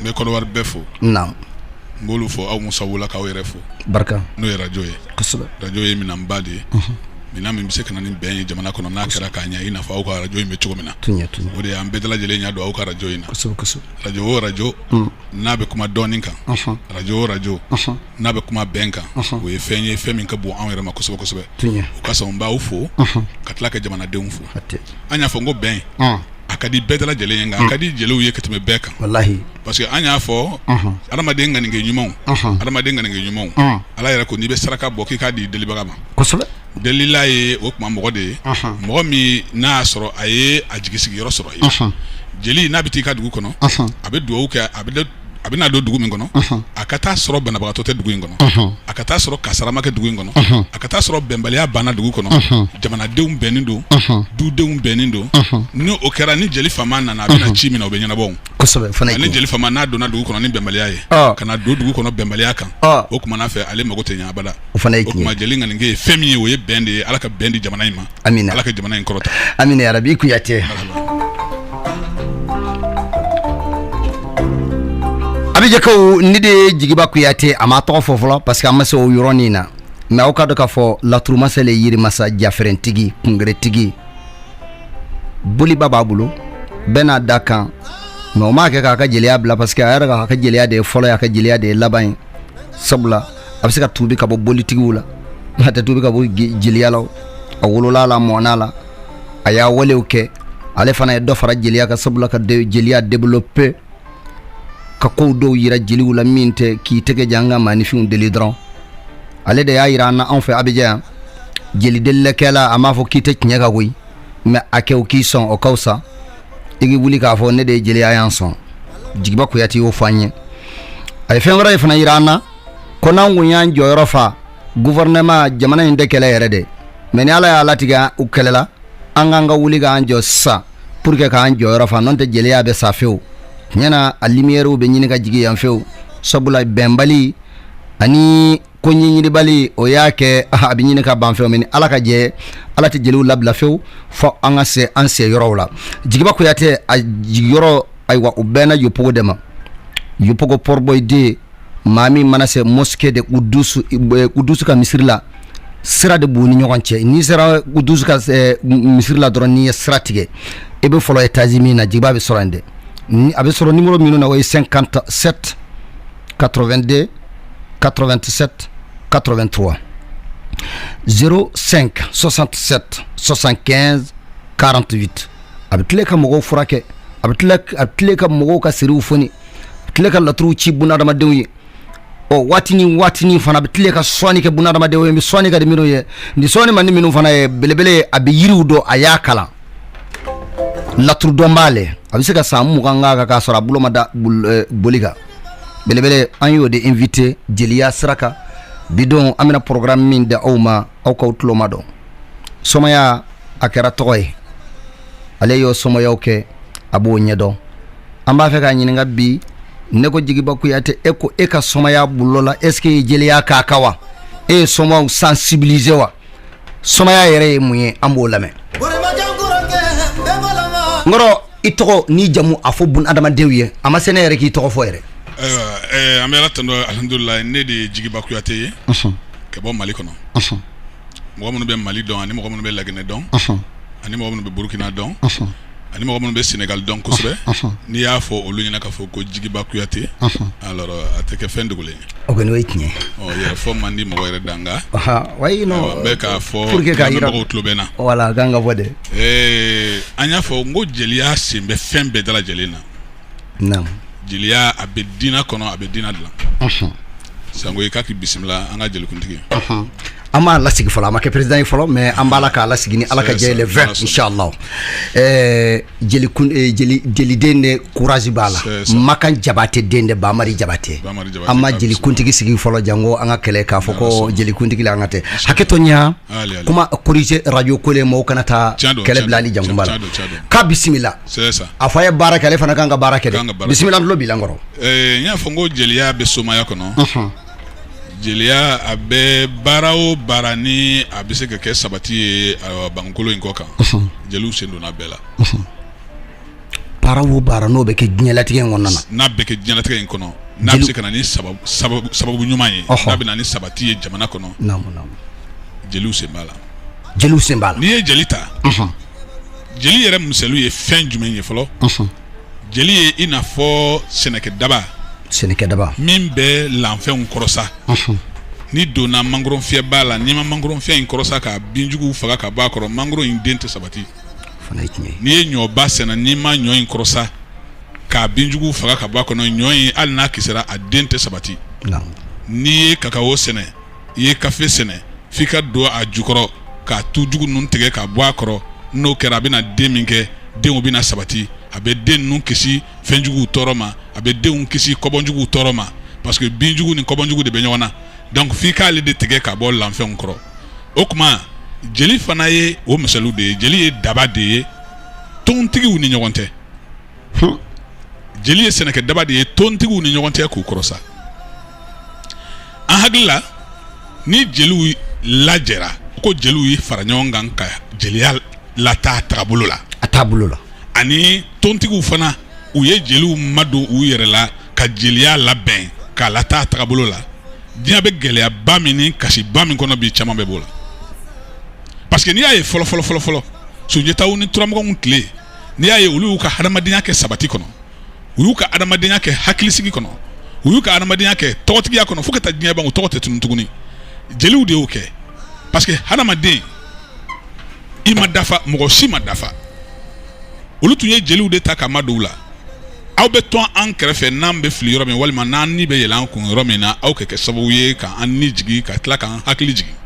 n bɛ kɔdiwari bɛɛ fo n b'olu fo aw musa wololakaw yɛrɛ fo barika n'o ye arajo ye arajo ye minɛn ba de ye minɛn min bɛ se ka na ni bɛn ye jamana kɔnɔ n'a kɛra k'a ɲɛ i n'a fɔ aw ka arajo in bɛ cogo min na o de y'an bɛɛ lajɛlen ɲɛ don aw ka arajo in na arajo o arajo n'a bɛ kuma dɔnni kan arajo o arajo n'a bɛ kuma bɛn kan o ye fɛn ye fɛn min ka bon anw yɛrɛ ma kosɛbɛ kosɛbɛ o ka sɔn n b'aw fo ka tila ka jamanadenw fo an y'a fɔ n ko bɛn a ka di bɛɛ lajɛlen ye nka a ka di jeliw ye ka tɛmɛ bɛɛ kan parce que an y'a fɔ adamaden ŋaninkɛ ɲuman adamaden ŋaninkɛ ɲuman ala yɛrɛ ko n'i bɛ saraka bɔ k'i k'a di delibaga ma delila ye o tuma mɔgɔ de ye mɔgɔ min n'a y'a sɔrɔ a ye a jigi sigiyɔrɔ sɔrɔ ye jeli n'a bɛ taa i ka dugu kɔnɔ a bɛ dugawu kɛ a bɛ a bɛna don dugu min kɔnɔ a ka taa sɔrɔ banabagatɔ tɛ dugu in kɔnɔ a ka taa sɔrɔ kasara ma kɛ dugu in kɔnɔ a ka taa sɔrɔ bɛnbaliya banna dugu kɔnɔ jamanadenw bɛnnen don dudenw bɛnnen don n' o kɛra ni jeli fama nana a bɛ na ci min na o bɛ ɲɛnabɔ ni jeli fama n'a donna dugu kɔnɔ ni bɛnbaliya ye ka na don dugu kɔnɔ bɛnbaliya kan o tuma na fɛ ale mako tɛ ɲɛ abada o tuma jeli ŋaninkɛ ye fɛn min ye o ye bɛn de ye ala ka bɛn di jamana in ma amina ala ka jamana in kɔrɔta amina yarabi kuyate abijankaw ni de ye jigiba kuyate an m'a tɔgɔ fɔ fɔlɔ parce que an ma se o yɔrɔnin na mais aw k'a dɔn k'a fɔ laturumasa le yirimasa jafɛrɛntigi kungeretigi boliba b'a bolo bɛɛ n'a dakan mais o m'a kɛ k'a ka jeliya bila parce que a yɛrɛ k'a ka jeliya de ye fɔlɔ y'a ka jeliya de ye laban ye sabula a bɛ se ka tubi ka bɔ bolitigiw la a tɛ tubi ka bɔ jeliya la a wolola a la a mɔna a la a y'a walew kɛ ale fana ye dɔ fara jeliya kan sabula ka jeliya développer ka kow dɔw yira jeliw la min tɛ k'i tɛgɛ jan ka maanifinw deli dɔrɔn ale de y'a jira an na anw fɛ abijan yan jeli delilikɛla a m'a fɔ k'i tɛ tiɲɛ ka koyi mais a kɛ u k'i sɔn o ka fisa i k'i wuli k'a fɔ ne de ye jeli ye a y'an sɔn jigiba kuyate y'o fɔ an ye a ye fɛn wɛrɛ fana jira an na ko n'an tun y'an jɔyɔrɔ fa gouvernement jamana in tɛ kɛlɛ yɛrɛ dɛ mais ni ala y'a latigɛ u kɛlɛla an k'an ka wuli k'an jɔ sisan pour que k'an jɔyɔrɔ fa n'o tɛ jeliya bɛ sa fewu tiɲɛ na a lumière bɛ ɲini ka jigin yan fewu sabula bɛnbali ani ko ɲɛɲinibali o y'a kɛ ah, a bɛ ɲini ka ban fewu mais ala ka jɛ ala tɛ jeliw labila fewu fo an ka se an se yɔrɔw la jigiba kuyate a jigiyɔrɔ ayiwa u bɛ na yopougon de ma yopougon port-bouët 2 maa min mana se mosquée de kudusu eh, kudusu ka misiri la sira de b'u ni ɲɔgɔn cɛ n'i sera kudusu ka eh, misiri la dɔrɔn n'i ye sira tigɛ i bɛ fɔlɔ etazi min na jigiba bɛ sɔrɔ yen dɛ a bɛ sɔrɔ nimoro minnu na o ye 57 82 87 83 05 67 75 48 a bɛ tile ka mɔgɔw furakɛ a bɛ tile ka mɔgɔw ka siriw foni a bɛ tile ka laturuw ci bun hadamadenw ye o waati ni waati fana a bɛ tile ka sɔni kɛ bun hadamadenw ye bɛ sɔni ka di minnu ye ni sɔni man di minnu fana ye belebele a bɛ yiriw dɔn a y'a kalan laturudɔn b'a la a bɛ se ka san mugan kan kan k'a sɔrɔ a bolo ma da boli kan belebele an y'o de invité jeliya sira kan bi don an bɛna programme min da aw ma aw k'aw tulomajɔ somaya a kɛra tɔgɔ ye ale y'o somayaw kɛ a b'o ɲɛdɔn an b'a fɛ k'a ɲininka bi ne ko jigiba kuyate e ko e ka somaya bulon la est ce que jeliya ka kan wa e ye somaw sensibiliser wa somaya yɛrɛ ye mun ye an b'o lamɛn n kɔrɔ i tɔgɔ ni jamu a fɔ bun adamadenw ye a ma se ne yɛrɛ k'i tɔgɔ fɔ yɛrɛ eh, an bɛ ala tando alihamudulila ne de ye jigiba kuyate ye ka bɔ mali kɔnɔ mɔgɔ minnu bɛ mali dɔn ani mɔgɔ minnu bɛ laginɛ dɔn ani mɔgɔ minnu bɛ burukina dɔn ani mɔgɔ minnu bɛ senegali dɔn kosɛbɛ n'i y'a fɔ olu ɲɛna k'a fɔ ko jigiba kuyate alors a tɛ kɛ fɛn dogolen ye o kɔni o ye tiɲɛ yɛrɛ fɔ man di mɔgɔ yɛrɛ da nka wayi non n bɛ k'a fɔ mɔgɔw tulo bɛ na voilà kan ka bɔ dɛ an y'a fɔ n ko jeliya sen bɛ fɛn bɛɛ dalajɛlen na jeliya a bɛ diinɛ kɔnɔ a bɛ diinɛ dilan sango i k'a bisimila an ka jeliwkuntigi an m'a lasigi fɔlɔ a ma kɛ président ye fɔlɔ mais an b'a la k'a lasigi ni ala ka jɛ le 20 inchallah jeliden de courage b'a la makan jabatɛ den de bamari jabatɛ an ma jelikuntigi sigi fɔlɔ janko an ka kɛlɛ k'a fɔ ko jelikuntigi la an ka tɛ hakɛto n y'a kuma corriger radio ko le maaw kana taa kɛlɛ bila hali janko n b'a la k'a bisimila a fɔ a ye baara kɛ ale fana kan ka baara kɛ dɛ bisimila n tulo b'i la n kɔrɔ n y'a fɔ n ko jeliya bɛ somaya kɔnɔ jeliya a bɛ baara o baara ni a bɛ se ka kɛ sabati ye bankolo in kɔ kan jeliw sen donna bɛɛ la baara o baara n'o bɛ kɛ diɲɛlatigɛ in kɔnɔna na n'a bɛ kɛ diɲɛlatigɛ in kɔnɔ n'a bɛ se ka na ni sababu ɲuman ye n'a bɛ na ni sabati ye jamana kɔnɔ jeliw sen b'a la jeliw sen b'a la n'i ye jeli ta jeli yɛrɛ misaliw ye fɛn jumɛn ye fɔlɔ jeli ye i n'a fɔ sɛnɛkɛ daba min bɛ lanfɛnw kɔrɔsa n'i donna mangoron fiyɛ b'a la n'i ma mangoron fiyɛ in kɔrɔsa ka binjuguw faga ka bɔ a kɔrɔ mangoron in den tɛ sabati n'i ye ɲɔba sɛnɛ n'i ma ɲɔ in kɔrɔsa k'a binjuguw faga ka bɔ a kɔnɔ ɲɔ in hali n'a kisira a den tɛ sabati n'i ye kakawo sɛnɛ i ye kafe sɛnɛ f'i ka don a jukɔrɔ k'a tu jugu ninnu tigɛ ka bɔ a kɔrɔ n'o kɛra a bɛna den min kɛ denw bɛna sabati a bɛ den ninnu kisi fɛnjuguw tɔɔrɔ ma a bɛ denw kisi kɔbɔnjuguw tɔɔrɔ ma parce que binjugu ni kɔbɔnjugu de bɛ ɲɔgɔn na donc f'i k'ale de tigɛ ka bɔ lanfɛnw kɔrɔ o tuma jeli fana ye o misaliw de ye jeli ye daba de ye tontigiw ni ɲɔgɔn tɛ jeli ye sɛnɛkɛ daba de ye tontigiw ni ɲɔgɔn cɛ k'u kɔrɔsa an hakili la ni jeliw lajɛra ko jeliw ye fara ɲɔgɔn kan ka jeliya lataa tagabolo la a taabolo la ani tontigiw fana u ye jeliw madon u yɛrɛ la ka jeliya labɛn k'a lataa tagabolo la diɲɛ bɛ gɛlɛyaba min ni kasiba min kɔnɔ bi caman bɛ b'o la parce que n'i y'a ye fɔlɔ fɔlɔ fɔlɔ fɔlɔ sunjataw ni turamaganw tile n'i y'a ye olu y'u ka hadamadenya kɛ sabati kɔnɔ u y'u ka hadamadenya kɛ hakilisigi kɔnɔ u y'u ka hadamadenya kɛ tɔgɔtigiya kɔnɔ fo ka taa diɲɛ ban u tɔgɔ tɛ tunun tuguni jeliw de y'o kɛ parce que hadamaden i ma dafa mɔgɔ si ma dafa olu tun ye jeliw de ta k'a madon u la aw bɛ to an kɛrɛfɛ n'an bɛ fili yɔrɔ min walima n'an ni bɛ yɛlɛ an kun yɔrɔ min na aw ka kɛ sababu ye ka an ni jigin ka tila k'an hakili jigin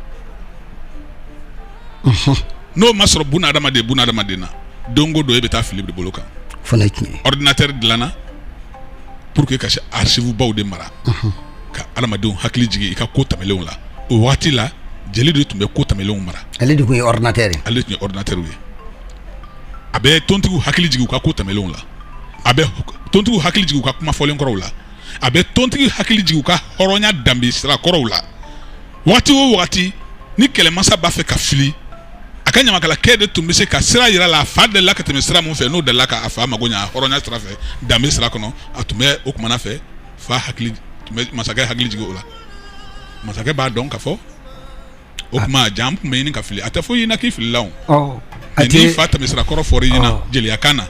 n'o ma sɔrɔ buna adamaden buna adamaden na don o don e bɛ taa fili de bolo kan fana ye tiɲɛ ye ordinateur dilanna pour que ka se archive baw de mara ka adamadenw hakili jigin i ka ko tɛmɛnlenw la o waati la jeli de tun bɛ ko tɛmɛnlenw mara ale de tun ye ordinateur ye ale tun ye ordinateur ye a bɛ tontigiw hakili jigin u ka ko tɛmɛnlenw la a bɛ tontigiw hakili jigin u ka kuma fɔlen kɔrɔw la a bɛ tontigiw hakili jigin u ka hɔrɔnya danbe sira kɔrɔw la waati o waati ni kɛlɛmasa b'a fɛ ka fili a ka ɲamakalakɛ de tun bɛ se ka sira yir'a la a fa delila ka tɛmɛ sira min fɛ n'o delila k'a fa mago ɲa hɔrɔnya sira fɛ danbe sira kɔnɔ a tun bɛ o kumana fɛ fa hakili tun bɛ masakɛ hakili jigin o la masakɛ b'a dɔn ka fɔ o tuma ja n tun bɛ ɲini ka fili a tɛ fɔ i ɲɛna k'i filila o n'i fa tɛmɛsira kɔrɔ fɔr'i ɲɛna jeliyakan na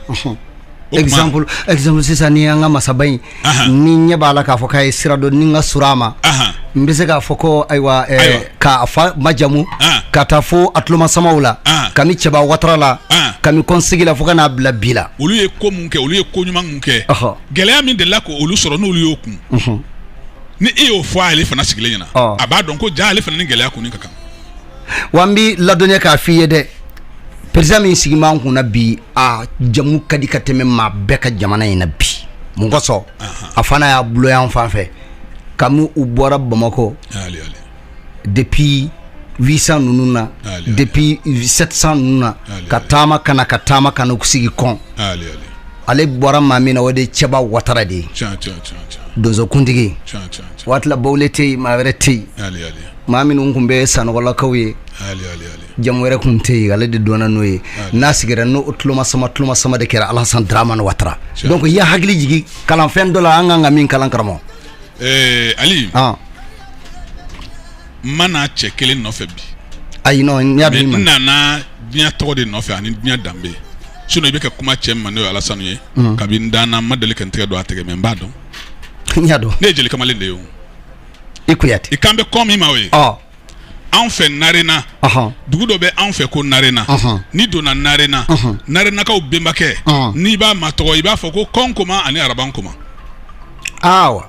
exemple exemple sisan ni an ka masaba in ni n ɲɛ b'a la k'a fɔ k'a ye sira dɔn ni n ka surun a ma n bɛ se k'a fɔ ko ayiwa eh, k'a fa majamu ka taa fo a tulomasamaw la kami cɛba watara la kami kɔn sigi la fo ka n'a bila bi la olu ye ko mun kɛ olu ye ko ɲuman mun kɛ gɛlɛya min delila k'olu sɔrɔ n'olu y'o kun ni e y'o fɔ ale fana sigilen ɲɛna oh. a b'a dɔn ko ja ale fana ni gɛlɛya kunni ka kan wa n b'i ladɔnniya k'a f'i ye dɛ président min sigi b'an kunna bi a jamu ka di ka tɛmɛ maa bɛɛ ka jamana in na bi mun kosɔn a fana y'a bulo yan fan fɛ kami u bɔra bamakɔ depuis 800 ninnu na depuis 700 ninnu na ka taama ka na ka taama ka na k'u sigi kɔn ale bɔra maa min na o de ye cɛba watara de ye donsokuntigi waati la bawule tɛ yen maa wɛrɛ tɛ yen maa minnu tun bɛ sanɔgɔlakaw ye jamu wɛrɛ tun tɛ yen ale de donna n'o ye n'a sigira n'o tulomasama tulomasama de kɛra alasan dramani watara donc i y'an hakili jigin kalanfɛn dɔ la an kan ka min kalan karamɔgɔ eh, ali n ma na cɛ kelen nɔfɛ bi ayi non n y'a dɔn i ma n nana diɲɛ tɔgɔ de nɔfɛ ani diɲɛ danbe sinon i bɛ ka kuma cɛ min ma n'o ye alasani ye mm. kabi n danna n ma deli ka n tɛgɛ don a tɛgɛ mais n b'a dɔn n y'a dɔn ne ye jeli kamalen de ye o i kuyate i kan bɛ ko min ma o ye oh. anw fɛ narena dugu dɔ bɛ anw fɛ ko narena n'i donna narena narenakaw benbakɛ n'i b'a matɔgɔ i b'a fɔ ko kɔnkoma ani araban koma awa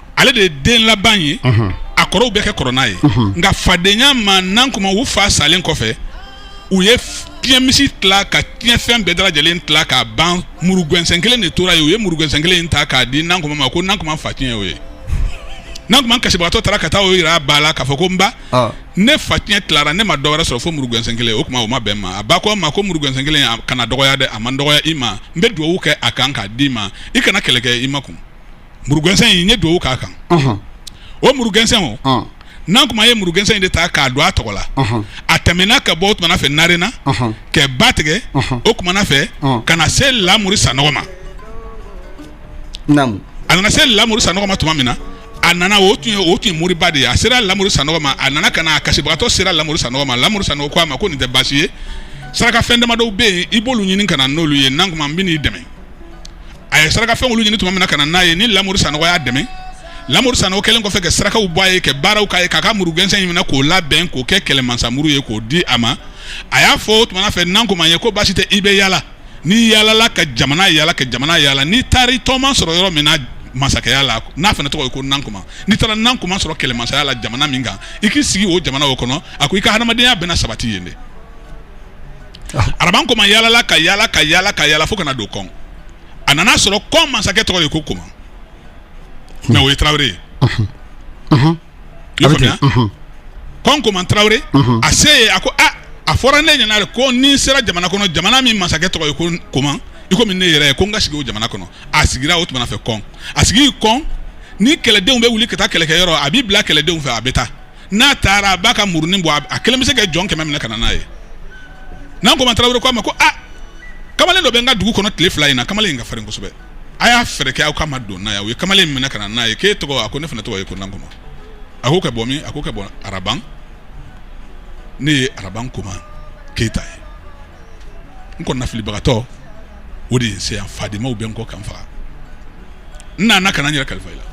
ale de ye den laban ye a kɔrɔw bɛɛ ka kɔrɔ n'a ye nka fadenya ma nankoma u fa salen kɔfɛ u ye tiɲɛmisi tila ka tiɲɛfɛn bɛɛ dalajɛlen tila k'a ban murugɛnsɛn kelen de tora ye u ye murugɛnsɛn kelen ta k'a di nankoma ma ko nankoma fa tiɲɛ y'o ye nankoma kasibagatɔ taara ka taa o yira a ba la k'a fɔ ko n ba ne fa tiɲɛ tilara ne ma dɔ wɛrɛ sɔrɔ fo murugɛnsɛn kelen o kuma o ma bɛn ma a ba ko a ma ko murugɛnsɛn kelen kana dɔgɔya dɛ a man dɔgɔya i ma n bɛ dugawu kɛ a kan k'a d'i ma i kana kɛlɛ kɛ i makun murugɛnsɛn in n ye dugawu k'a kan o murugɛnsɛn o nankoma ye murugɛnsɛn in de ta k'a don a tɔgɔ la a tɛmɛna ka bɔ o tumana fɛ narena ka ba tigɛ o tumana fɛ ka na se lamuru sanɔgɔ ma a nana se lamuru sanɔgɔ ma tuma min na a nana o tun ye moriba de ye a sera lamuru sanɔgɔ ma a nana ka na a kasibagatɔ sera lamuru sanɔgɔ ma lamuru sanɔgɔ ko a ma ko nin tɛ baasi ye sarakafɛn damadɔw bɛ yen i b'olu ɲini ka na n'olu ye nankoma n bɛ n'i dɛmɛ a ye saraka fɛn olu ɲini tuma min na ka na n'a ye ni lamuru sanɔgɔ y'a dɛmɛ lamuru sanɔgɔ kɛlen kɔfɛ ka sarakaw bɔ a ye ka baaraw k'a ye k'a ka murugɛnsɛn in minɛ k'o labɛn k'o kɛ kɛlɛmansamuru ye k'o di a ma a y'a fɔ o tuma fɛ nankoma ye ko baasi tɛ i bɛ yaala n'i yaalala ka jamana yaala ka jamana yaala n'i taara i tɔɔma sɔrɔ yɔrɔ min na masakɛya la n'a fana tɔgɔ ye ko nankoma n'i taara nankoma sɔrɔ kɛlɛmansaya la jamana min kan i k'i sigi o jamana o kɔnɔ a ko i ka hadamadenya bɛna sabati yen dɛ araban koma yaalala ka yaala ka yaala ka yaala fo ka na don kɔn a nana a sɔrɔ kɔn masakɛ tɔgɔ ye ko koma mais o ye tarawele ye i y'a faamuya kɔn koma tarawele a se yen a ko a a fɔra ne ɲɛna de ko ni n sera jamana kɔnɔ jamana min masakɛ tɔgɔ ye ko koma i komi ne yɛrɛ ye ko n ka sigi o jamana kɔnɔ a sigira o tuma fɛ kɔn a sigi kɔn ni kɛlɛdenw bɛ wuli ka taa kɛlɛkɛyɔrɔ a b'i bila kɛlɛdenw fɛ a bɛ taa n'a taara a b'a ka murunin bɔ a kelen bɛ se ka jɔn kɛmɛ minɛ ka na n'a ye nankoma tarawele ko a ma ko a kamalen dɔ bɛ n ka dugu kɔnɔ tile fila in na kamalen in ka farin kosɛbɛ a y'a fɛɛrɛ kɛ aw ka madon n'a ye o ye kamalen minɛ ka na n'a ye k'e tɔgɔ a ko ne fana tɔgɔ ye ko nankoma a ko ka bɔ min a ko ka bɔ araban ne ye araban koma keyita ye n kɔni nafilibagatɔ o de ye n se yan fadenmaw bɛ n kɔ ka n faga n nana ka na n yɛrɛ kalifa i la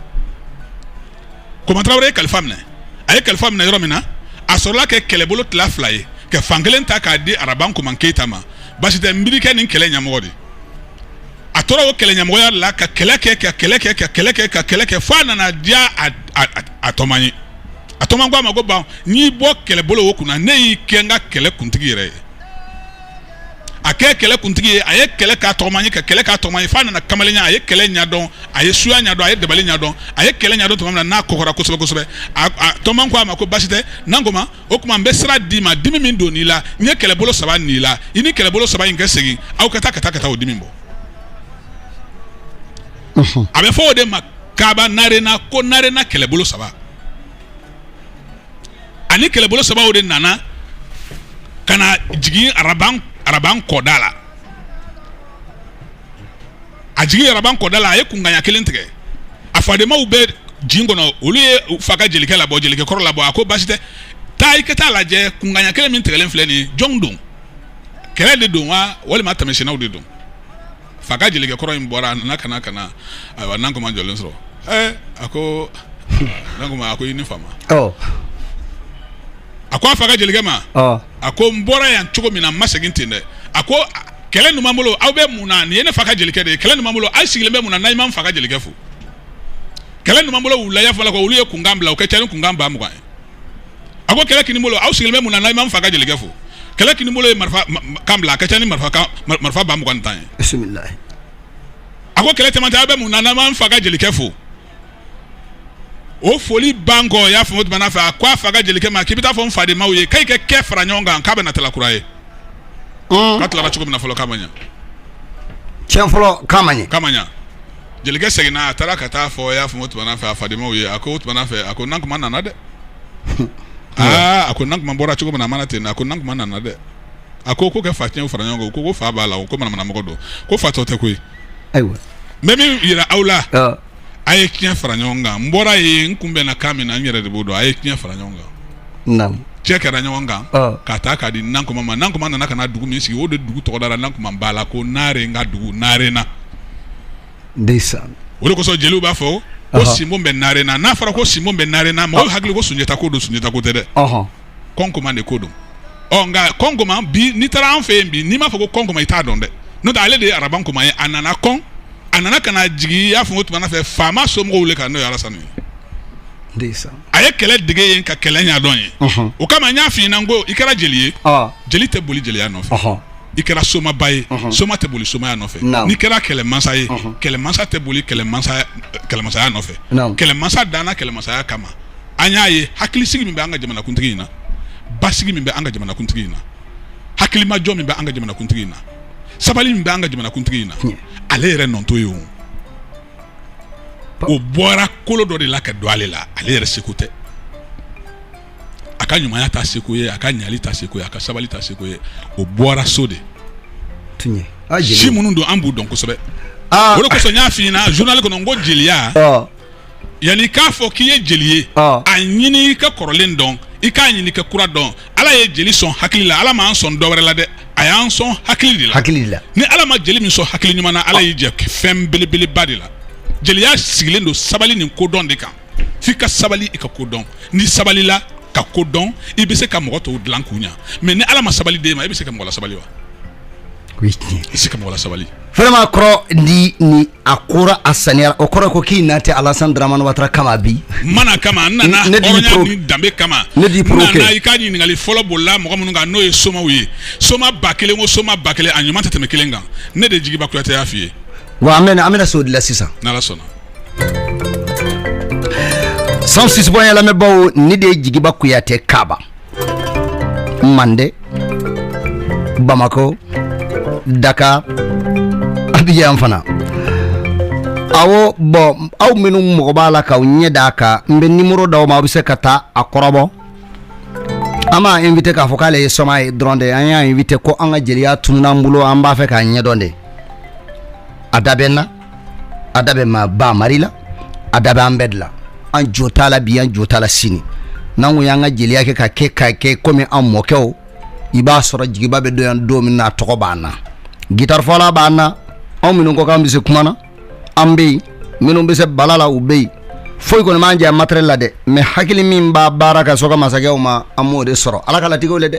koman tarawele ye kalifa minɛ a ye kalifa minɛ yɔrɔ min na a sɔrɔla kɛ kɛlɛbolo tila fila ye ka fan kelen ta k'a di araban koman keyita ma basi tɛ n b'i de kɛ nin kɛlɛ ɲɛmɔgɔ di a tora o kɛlɛ ɲɛmɔgɔya la ka kɛlɛ kɛ ka kɛlɛ kɛ ka kɛlɛ kɛ ka kɛlɛ kɛ fo a nana diya a tɔgɔma ye a tɔgɔma ko a ma ko n bɛ n'i bɔ kɛlɛbolo o kunna ne y'i kɛ n ka kɛlɛ kuntigi yɛrɛ ye a kɛ kɛlɛ kuntigi ye a ye kɛlɛ k'a tɔgɔma ye ka kɛlɛ k'a tɔgɔma ye f'a nana kamalenya a ye kɛlɛ ɲɛdɔn a ye suya ɲɛdɔn a ye dabali ɲɛdɔn a ye kɛlɛ ɲɛdɔn tuma min na n'a kɔgɔra kosɛbɛ kosɛbɛ a tɔgɔma ko a ma ko basi tɛ nankoma o tuma n bɛ sira d'i ma dimi min donn'i la n ye kɛlɛbolo saba n'i la i ni kɛlɛbolo saba in kɛ segin aw ka taa ka taa ka taa o dimi bɔ a bɛ fɔ o de ma kaaba narena ko narena kɛlɛbolo saba a ni kɛlɛbolo saba o de nana ka na jigin araban araban kɔda la a jigin araban kɔda la a ye kunkan ɲɛ kelen tigɛ a fadenmaw bɛ jin kɔnɔ olu ye fa ka jelikɛ labɔ jelikɛ kɔrɔ labɔ a ko basi tɛ taa i ka taa lajɛ kunkan ɲɛ kelen min tigɛlen filɛ nin jɔn don kɛlɛ de don wa walima tɛmɛsennaw de don fa ka jelikɛ kɔrɔ in bɔra a nana ka na ka na ayiwa nankoma jɔlen sɔrɔ ɛɛ a ko nankoma a ko i ni fama ɔ a ko a fa ka jelikɛ ma ɔ a ko n bɔra yan cogo min na n ma segin ten dɛ a ko a- kɛlɛ numan bolo aw bɛ mun na nin ye ne fa ka jelikɛ de ye kɛlɛ numan bolo aw sigilen bɛ mun na n'aw ma n fa ka jelikɛ fo kɛlɛ numan bolo wulaya fɔlɔ ko olu ye kunkan bila o ka ca ni kunkan ba mugan ye a ko kɛlɛ kini bolo aw sigilen bɛ mun na n'aw ma n fa ka jelikɛ fo kɛlɛ kini bolo ye marifa kan bila a ka ca ni marifa marifa ba mugan tan ye bisimilahi a ko kɛlɛ cɛmancɛ aw bɛ mun na n'aw ma n fa ka jelikɛ fo o foli ban kɔ y'a fɔ o tuma fɛ a ko a fa ka jelikɛ ma k'i bɛ t'a fɔ n fadenmaw ye k'u ka kɛ fara ɲɔgɔn kan k'a bɛ na tala kura ye k'a tilara cogo min na fɔlɔ k'a ma ɲɛ tiɲɛ fɔlɔ k'a ma ɲɛ k'a ma ɲɛ jelikɛ seginna a taara ka taa a fɔ a y'a fɔ o tuma fɛ a fadenmaw ye a ko o tuma fɛ a ko nankoma nana dɛ aa a ko nankoma bɔra cogo min na a ma na ten a ko nankoma nana dɛ a ko ko kɛ fa tiɲɛ fara ɲɔgɔn kan ko fa b'a la o ko manamanamɔgɔ don ko fatɔ tɛ koyi ayiwa n bɛ min jira aw la a ye tiɲɛ fara ɲɔgɔn kan n bɔra yen n kun bɛnna kan min na n yɛrɛ de b'o dɔn a ye tiɲɛ fara ɲɔgɔn kan cɛ kɛra ɲɔgɔn kan ka taa k'a di nankoma ma nankoma nana ka na dugu min sigi o de dugu tɔgɔ dara nankoma ba la ko naare n ka dugu naarena o de kosɔn jeliw b'a fɔ ko sinbo bɛ naarena n'a fɔra ko sinbo bɛ naarena mɔgɔ hakili ko sunjata ko don sunjata ko tɛ dɛ kɔnkɔma de ko don ɔ nka kɔnkɔma bi n'i taara an fɛ yen bi n'i m'a fɔ ko kɔnkɔma i t'a dɔn dɛ n'o ale de ye araban koma ye a nana kɔn a nana ka na jigin i y'a fɔ o tuma fɛ faama somɔgɔw le kan n'o ye alasani ye a ye kɛlɛ dege yen ka kɛlɛ ɲɛdɔn yen o kama n y'a f'i ɲɛna n ko i kɛra jeli ye jeli tɛ boli jeliya nɔfɛ i kɛra somaba ye soma tɛ boli somaya nɔfɛ n'i kɛra kɛlɛmasa ye kɛlɛmasa tɛ boli kɛlɛmasaya nɔfɛ kɛlɛmasa danna kɛlɛmasaya kama an y'a ye hakilisigi min bɛ an ka jamanakuntigi in na basigi min bɛ an ka jamanakuntigi in na hakilimajɔ min bɛ an ka jamanakuntigi in na sabali min bɛ an ka jamanakuntigi in na ale yɛrɛ nɔ t'o ye o o bɔra kolo dɔ de la ka don ale la ale yɛrɛ seko tɛ a ka ɲumanya t'a seko ye a ka ɲali t'a seko ye a ka sabali t'a seko ye o bɔra so de si minnu don an b'u dɔn kosɛbɛ ah. o de kosɔn n y'a f'i ɲɛna journal kɔnɔ n ko jeliya ah. yanni k'a fɔ k'i ye jeli ye ah. a ɲini i ka kɔrɔlen dɔn i k'a ɲini ka kura dɔn ala ye jeli sɔn hakili la ala m'an sɔn dɔwɛrɛ la dɛ a y'an sɔn hakili de la hakili de la ni ala ma jeli min sɔn hakili ɲuman na ala y'i jɛ fɛn belebeleba de la jeliya sigilen don sabali nin kodɔn de kan f'i ka sabali i ka ko dɔn n'i sabalila ka ko dɔn i bɛ se ka mɔgɔ tɔw dilan k'u ɲa mais ni ala ma sabali d'e ma i bɛ se ka mɔgɔ lasabali wa i bɛ se ka mɔgɔ lasabali vraiment kɔrɔ ni ni a kora a saniyara o kɔrɔ ko k'i na tɛ alasan dramani watara kama bi mana kama n nana danbe kama ne di i ka ɲininkali fɔlɔ bolila mɔgɔ minnu kan n'o ye somaw ye soma ba kelen o soma ba kelen a ɲuman tɛ tɛmɛ kelen kan ne de jigiba kuyate y'a f'i ye wa an bɛna an bɛna s'o de la sisan n'ala sɔnna cent six point lamɛnbaw ne de ye jigiba kuyate kaba mande bamakɔ dakar abijan fana awo bon aw minnu mago b'a la k'aw ɲɛ d'a kan n bɛ nimoro d'aw ma aw bɛ se ka taa a kɔrɔbɔ an m'a invité k'a fɔ k'ale ye soma ye dɔrɔn de an y'a invité ko an ka jeliya tunun'an bolo an b'a fɛ k'a ɲɛdɔn de a da bɛ n na a da bɛ ma ba mari la a da bɛ an bɛɛ de la an jo t'a la bi an jo t'a la sini n'an ko y'an ka jeliya kɛ ka kɛ komi an mɔkɛw i b'a sɔrɔ jigiba bɛ don yan don min na a tɔgɔ b'an na gitarifɔla b'an na anw minnu ko k'an bɛ se kuma na an bɛ yen minnu bɛ se bala la u bɛ yen foyi kɔni m'an jɛ matériel la dɛ mais hakili min b'a baara ka sɔrɔ ka masakɛw ma an m'o de sɔrɔ ala ka latigɛw le dɛ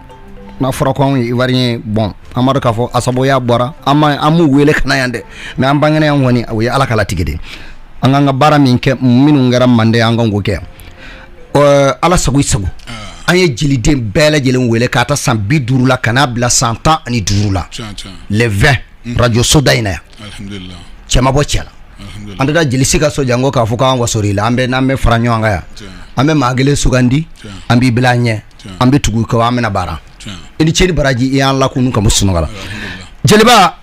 n'a fɔra ko anw ye ivoirien bon an b'a dɔn k'a fɔ a sabuya bɔra an ma an m'u wele ka na yan dɛ mais an bangena yan kɔni o ye ala ka latigɛ de an k'an ka baara min kɛ minnu kɛra mande an kan k'o kɛ ala sago i sago an ye jeliden bɛɛ lajɛlen wele k'a ta san bi duuru la ka n'a bila san tan ani duuru la le 20 mm. radio soda in na yan cɛ ma bɔ cɛ la an tɛ taa jeli si ka so janko k'a fɔ k'an wasori la an bɛ n'an bɛ fara ɲɔgɔn kan yan an bɛ maa kelen sugandi an b'i bila an ɲɛ an bɛ tugu kɛ an bɛna baara i ni ce ni baraji i y'an lakunu ka bɔ sunɔgɔ la jeliba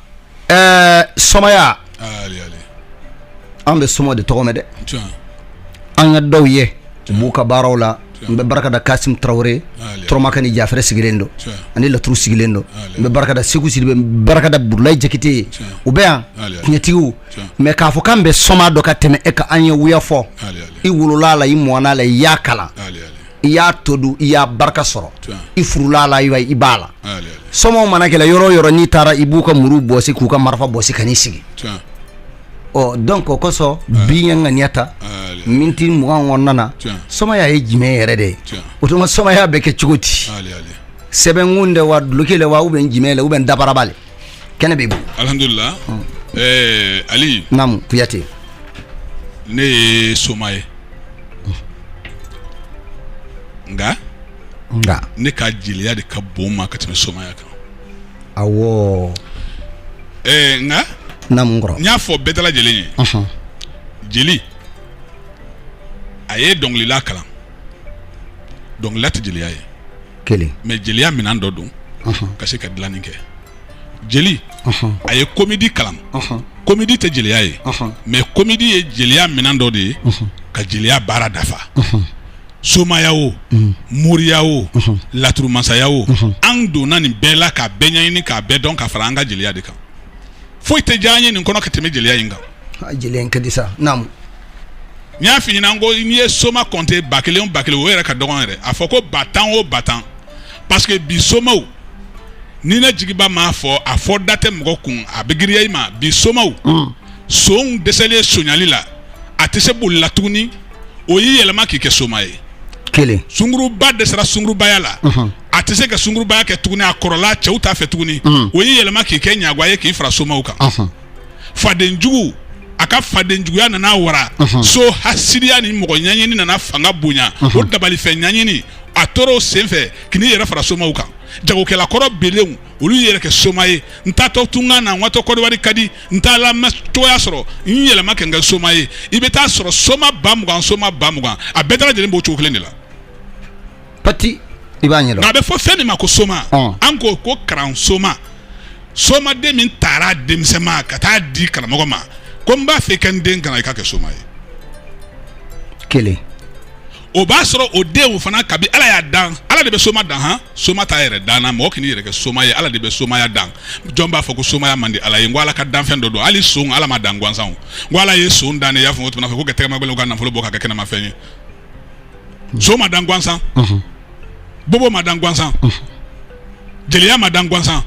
somaya an bɛ soma de tɔgɔ mɛn dɛ an ka dɔw ye u b'u ka baaraw la n bɛ barika da kasimu tarawele tɔrɔmaka ni jafɛrɛ sigilen don ani laturu sigilen don n bɛ barika da seku sidibe n barika da burulayi jakite ye u bɛ yan tiɲɛtigiw mais k'a fɔ k'an bɛ soma dɔn ka tɛmɛ e kan an ye wuya fɔ i wolola la i mɔna la i y'a kalan i y'a to dun i y'a barika sɔrɔ i furula la i b'a la somaw mana kɛlɛ yɔrɔ o yɔrɔ n'i taara i b'u ka muru bɔsi k'u ka marifa bɔsi ka n'i sigi ɔ donc o kosɔn bi n ye ŋaniya ta miniti mugan kɔnɔna na somaya ye jumɛn yɛrɛ de ye o tuma somaya bɛ kɛ cogo di sɛbɛnkun de wa duloki le wa ou bien jumɛn le ou bien dabaraba le kɛnɛ b'i bolo alihamudulila ɛɛ ali naamu kuyate ne ye soma ye nka nka ne ka jeliya de ka bon n ma ka tɛmɛ somaya kan awɔ ɛɛ nka naamu n kɔrɔ n y'a fɔ bɛɛ dalajɛlen ɲɛ jeli a ye dɔnkilila kalan dɔnkilila tɛ jeliya ye kelen mais jeliya minɛn dɔ don ka se ka dilanni kɛ jeli a ye comédie kalan comédie tɛ jeliya ye mais comédie ye jeliya minɛn dɔ de ye ka jeliya baara dafa somaya o moriya o laturu masaya o an donna nin bɛɛ la k'a bɛɛ ɲɛɲini k'a bɛɛ dɔn ka fara an ka jeliya de kan foyi tɛ diya an ye nin kɔnɔ ka tɛmɛ jeliya in kan a jeliya in ka di sa naamu n y'a f'i ɲɛna ko n'i ye soma kɔnte ba kelen o ba kelen o yɛrɛ ka dɔgɔn yɛrɛ a fɔ ko ba tan o ba tan parce que bi somaw ni ne jigiba m'a fɔ a fɔ da tɛ mɔgɔ kun a bɛ giriya i ma bi somaw mm. sonw dɛsɛlen sonyali la a tɛ se boli la tuguni o y'i yɛlɛma k'i kɛ soma ye kelen sunguruba dɛsɛra sungurubaya la mm-hmm. a tɛ se ka sungurubaya kɛ tuguni a kɔrɔla cɛw t'a fɛ tuguni mm. o y'i yɛlɛma k'i kɛ ɲagwa ye k'i fara somaw kan mm-hmm. fadenjugu a ka fadenjuguya nana wara so hasidiya ni mɔgɔ ɲɛɲini nana fanga bonya o dabalifɛn ɲɛɲini a tora o senfɛ ka n'i yɛrɛ fara somaw kan jagokɛla kɔrɔ belenw olu y'i yɛrɛ kɛ soma ye n taatɔ tunkan na n watɔ kɔdiwari ka di n t'a la cogoya sɔrɔ n yɛlɛma ka n kɛ soma ye i bɛ taa sɔrɔ soma ba mugan soma ba mugan a bɛɛ dalajɛlen b'o cogo kelen de la pati i b'a ɲɛdɔn nka a bɛ fɔ fɛn min ma ko soma an ko ko karan soma somaden min taara denmisɛnma ka taa di karamɔgɔ ma ko n b'a fɛ i ka n den kalan i k'a kɛ soma ye kelen o b'a sɔrɔ o den o fana kabi ala y'a dan ala de bɛ soma dan han soma t'a yɛrɛ dan na mɔgɔ k'i yɛrɛ kɛ soma ye ala de bɛ somaya dan jɔn b'a fɔ ko somaya man di ala ye n ko ala ka danfɛn dɔ don hali son ala m'a dan gansan n ko ala ye son dan ne y'a fɔ o tuma fɛ ko ka tɛgɛmagɛlɛn ka nafolo bɔ k'a kɛ kɛnɛmafɛn ye nson ma dan gansan bobo ma dan gansan jeliya ma dan gansan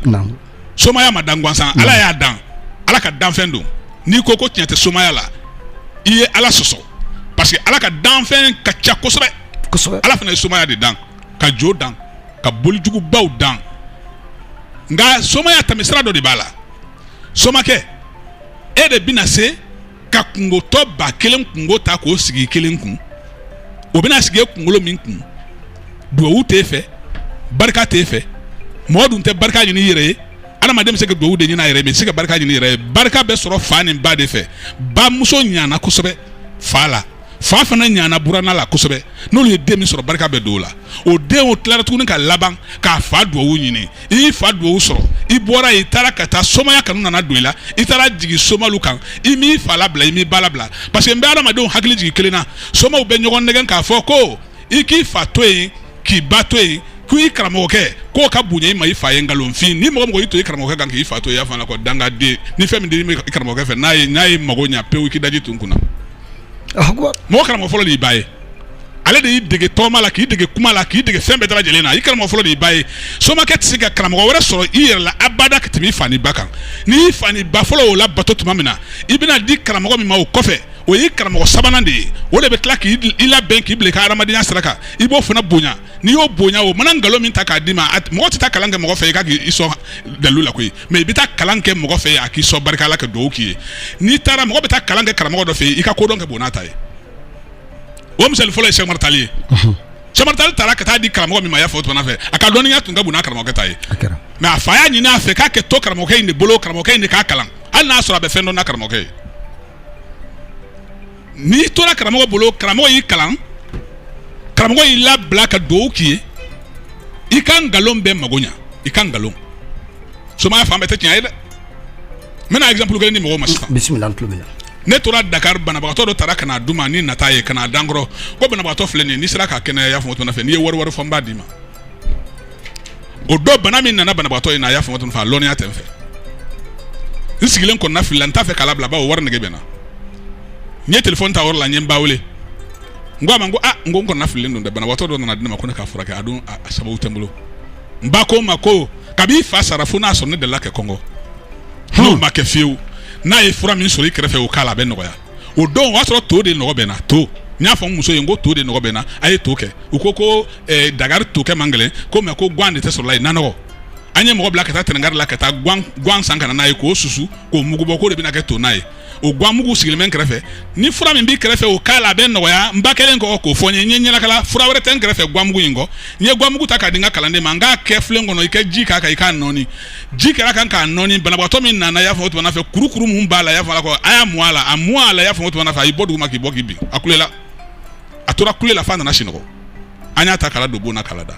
somaya ma dan gansan ala y'a dan ala ka danfɛn don n'i ko ko tiɲɛ tɛ somaya la i ye ala sɔsɔ parce que ala ka danfɛn ka ca kosɛbɛ ala fana ye somaya de dan ka jo dan ka bolijugubaw dan nka somaya tɛmɛsira dɔ de b'a la somakɛ e de bɛna se ka kunkotɔ ba kelen kunko ta k'o sigi kelen kun o bɛna sigi kunkolo min kun duwawu t'e fɛ barika t'e fɛ mɔgɔ dun tɛ barika ɲini i yɛrɛ ye adamaden bɛ se ka duwawu de ɲini a yɛrɛ ye mais i tɛ se ka barika ɲini i yɛrɛ ye barika bɛ sɔrɔ fa ni ba de fɛ bamuso ɲana kosɛbɛ fa la fa fana ɲana buranna la kosɛbɛ n'olu ye den min sɔrɔ barika bɛ don o la o den o tilara tuguni ka laban k'a fa duwawu ɲini i y'i fa duwawu sɔrɔ i bɔra i taara ka taa somaya kanu nana don i la i taara jigin somalu kan i m'i fa labila i m'i ba labila parce que n bɛ adamadenw hakili jigin kelen na somaw bɛ ɲɔgɔn nɛgɛn k'a fɔ ko i k'i fa to yen k'i ba to yen ko i karamɔgɔkɛ k'o ka bonya i ma i fa ye nkalonfin ni mɔgɔ mɔgɔ y'i to i karamɔgɔkɛ kan k'i fa to i y'a fɔ a la ko dangaden ni fɛn min di i karamɔgɔkɛ fɛ n'a ye mago ɲa pewu i k'i daji tu n kunna mɔgɔ karamɔgɔ fɔlɔ de y'i ba ye ale de y'i dege tɔgɔma la k'i dege kuma la k'i dege fɛn bɛɛ dalajɛlen na i karamɔgɔ fɔlɔ de y'i ba ye somakɛ tɛ se ka karamɔgɔ wɛrɛ sɔrɔ i yɛrɛ la abada ka tɛmɛ i fa ni ba kan n'i fa ni ba fɔlɔ o labato tuma min na i bɛna di karamɔgɔ min ma o kɔfɛ o y'i karamɔgɔ sabanan de ye o de bɛ tila k'i labɛn k'i bila i ka hadamadenya sira kan i b'o fana bonya n'i y'o bonya o mana nkalon min ta k'a d'i ma a t- mɔgɔ tɛ taa kalan kɛ mɔgɔ fɛ i ka k'i sɔn dalilu la koyi mais i bɛ taa kalan kɛ mɔgɔ fɛ a k'i sɔn barika la ka dugawu k'i ye n'i taara mɔgɔ bɛ taa kalan kɛ karamɔgɔ dɔ fɛ yen i ka kodɔn ka bon n'a ta ye o misali fɔlɔ ye sɛkumaru tali ye sɛkumaru tali taara ka taa di karamɔgɔ min ma a y'a fɔ o tuma fɛ a ka dɔnniya tun ka bon n'a karamɔgɔkɛ ta ye a kɛra mais a fa y'a ɲini a fɛ k'a ka to karamɔgɔkɛ in de bolo karamɔgɔkɛ in de k'a kalan hali n'a sɔrɔ a bɛ fɛn dɔn n'a karamɔgɔkɛ ye n'i tora karamɔgɔ bolo karamɔgɔ y'i kalan karamɔgɔ y'i labila ka dugawu k'i ye i ka nkalon bɛ mago ɲa i ka nkalon somaya fan bɛɛ tɛ tiɲɛ ye dɛ n bɛna exemple kelen di mɔgɔw ma sisan bisimila n tulo b'i la ne tora Dakar banabagatɔ dɔ tara ka n'a di n ma ni nata ye ka n'a da n kɔrɔ ko banabagatɔ filɛ nin ye n'i sera k'a kɛnɛya i y'a faamu o tuma na fɛ n'i ye wari wari fɔ n b'a d'i ma o dɔ bana min nana banabagatɔ in na a y'a fɔ o tuma fɛ a lɔnniya tɛ n fɛ n sigilen kɔnɔna fili la n t'a fɛ k'a labila bawo wari nege bɛ n na n ye telefɔni ta o yɔrɔ la n ye n ba wele n ko a ma n ko a n ko n kɔnɔna fililen don dɛ banabagatɔ dɔ nana di ne ma ko ne k'a furakɛ a dun a sababu tɛ n bolo n ba ko n ma ko kabi i fa sara fo n'a sɔrɔ ne delila kɛ kɔngɔ n'o ma kɛ fiyewu n'a ye fura min sɔrɔ i kɛrɛfɛ o k'a la a bɛ nɔgɔya o don o y'a sɔrɔ to de nɔgɔ bɛ n na to n y'a fɔ n muso ye n ko to de nɔgɔ bɛ n na a ye to kɛ u ko ko eh, dakari to kɛ man gɛlɛn ko mɛ ko gan de tɛ sɔrɔ la yen nanɔgɔ an ye mɔgɔ bila ka taa tɛnɛnkari la ka taa gan san ka na n'a ye k'o susu k'o mugu bɔ k'o de bɛna kɛ to na ye o gan mugu sigilen bɛ n kɛrɛfɛ ni fura min b'i kɛrɛfɛ o k'a la a bɛ nɔgɔya n ba kɛlen kɔ k'o fɔ n ye n ye ɲɛnakala fura wɛrɛ tɛ n kɛrɛfɛ gan mugu in kɔ n ye gan mugu ta k'a di n ka kalanden ma n k'a kɛ filen kɔnɔ i ka ji k'a kan i k'a nɔɔni ji kɛra a kan k'a nɔɔni banabagatɔ min nana y'a fɔ o tuma fɛ kurukuru min b'a la y'a fɔ ko a y'a mun a la a mun a la y'a fɔ o tuma fɛ a y'i bɔ dugu ma k'i bɔ k'i bin a kulela a tora kulela f'a nana sinɔgɔ an y'a ta k'a ladon bon na k'a lada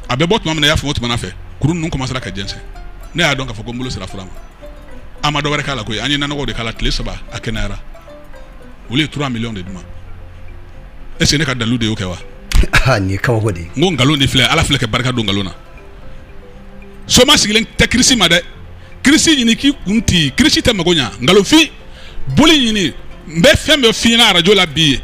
a bɛ bɔ tuma min na y'a fɔ o tuma fɛ kuru ninnu commencera ka jɛnsɛn ne y'a dɔn k'a fɔ ko n bolo sera fura ma an ma dɔ wɛrɛ k'a la koyi an ye nanɔgɔw de k'a la tile saba a kɛnɛyara olu ye 3 millions de d'u ma est ce que ne ka dalilu de y'o kɛ wa nin ye kabako de ye n ko nkalon de filɛ ala filɛ ka barika don nkalon na soma sigilen tɛ kirisi ma dɛ kirisi ɲini k'i kun ti kirisi tɛ mago ɲa nkalonfin boli ɲini n bɛ fɛn bɛɛ f'i ɲɛna arajo la bi ye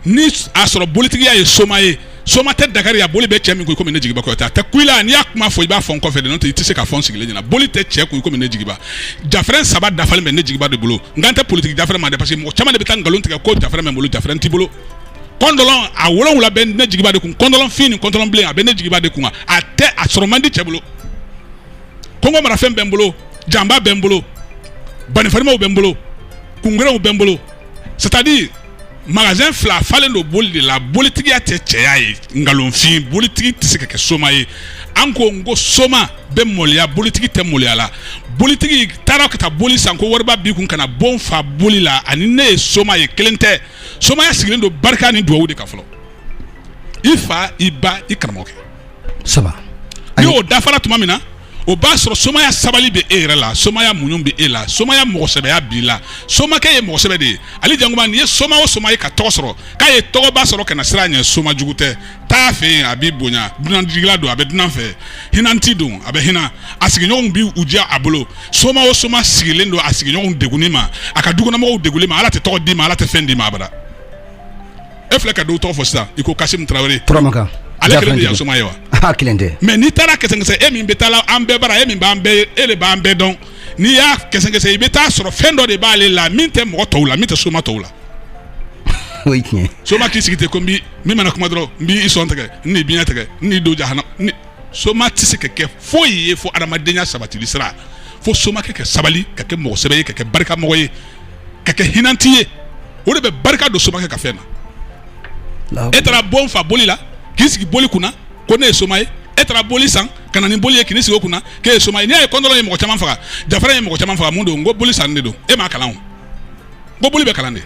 ni a sɔrɔ bolitigiya ye soma ye soma tɛ dakari a boli bɛ cɛ min kun komi ne jigiba kuyate a tɛ kuyila n'i y'a kuma fɔ i b'a fɔ n kɔfɛ de n'o tɛ i tɛ se k'a fɔ n sigilen ɲɛna boli tɛ cɛ kun komi ne jigiba jafrɛn saba dafalen bɛ ne jigiba de bolo n kan tɛ politiki jafrɛn ma dɛ parce que mɔgɔ caman de bɛ taa nkalon tigɛ ko jafrɛn bɛ n bolo jafrɛn t'i bolo kɔndɔlɔn a wolonwula bɛ ne jigiba de kun kɔndɔlɔn fin ni kɔndɔlɔn bilen a bɛ ne jigiba de kun a tɛ a sɔrɔ man di cɛ bolo kɔngɔ marafɛn bɛ n bolo janba bɛ n bolo banifarimaw bɛ n bolo kungerew bɛ n bolo c'est à dire magasin fila falen don boli de la bolitigiya tɛ cɛya ye nkalonfin bolitigi tɛ se ka kɛ soma ye an ko n ko soma bɛ mɔliya bolitigi tɛ mɔliya la bolitigi taara ka taa boli san ko wariba b'i kun ka na bon fa boli la ani ne ye soma ye kelen tɛ somaya sigilen don barika ni dugawu de kan fɔlɔ i fa i ba i karamɔgɔkɛ saba ni o dafara tuma min na o b'a sɔrɔ somaya sabali bɛ e yɛrɛ la somaya muɲun bɛ e la somaya mɔgɔsɛbɛya b'i la somakɛ ye mɔgɔsɛbɛ de ye ali jankuma n'i ye soma o soma ye ka tɔgɔ sɔrɔ k'a ye tɔgɔba sɔrɔ kana siran a ɲɛ soma jugu tɛ taa a fɛ yen a b'i bonya dunanjigila don a bɛ dunan fɛ hinanti don a bɛ hinɛ a sigiɲɔgɔnw bi u diya a bolo soma o soma sigilen don a sigiɲɔgɔnw degunni ma a ka dukɔnɔmɔgɔw degunni ma ala tɛ tɔgɔ d'i ma ala tɛ fɛn d'i ma abada e filɛ ka dɔw tɔgɔ fɔ sisan i ko kasimu tarawele turamakan ale kelen de ye soma ye wa a kelen tɛ mɛ n'i taara kɛsɛkɛsɛ e min bɛ taa la an bɛɛ bara e min b'an bɛɛ e de b'an bɛɛ dɔn n'i y'a kɛsɛkɛsɛ i bɛ taa a sɔrɔ fɛn dɔ de b'ale la min tɛ mɔgɔ tɔw la min tɛ soma tɔw la o ye tiɲɛ soma k'i sigi ten ko n bi min mana kuma dɔrɔn n b'i sɔn tigɛ n n'i biɲɛ tigɛ n n'i don jahana n ni- soma tɛ se ka kɛ foyi ye fo adamadenya sabatili sira fo soma kɛ ka sabali ka kɛ mɔgɔ sɛbɛ ye ka kɛ barika mɔgɔ ye ka kɛ hinanti ye o de bɛ barika don soma kɛ ka fɛn na e taara bon fa boli la k'i sigi boli kunna ko ne ye soma ye e taara boli san ka na ni boli ye ka n'i sigi o kunna k'e ye soma ye n'i y'a ye kɔndɔlɔn ye mɔgɔ caman faga jafrɛn ye mɔgɔ caman faga mun don n ko boli san de don e m'a kalan o ko boli bɛ kalan de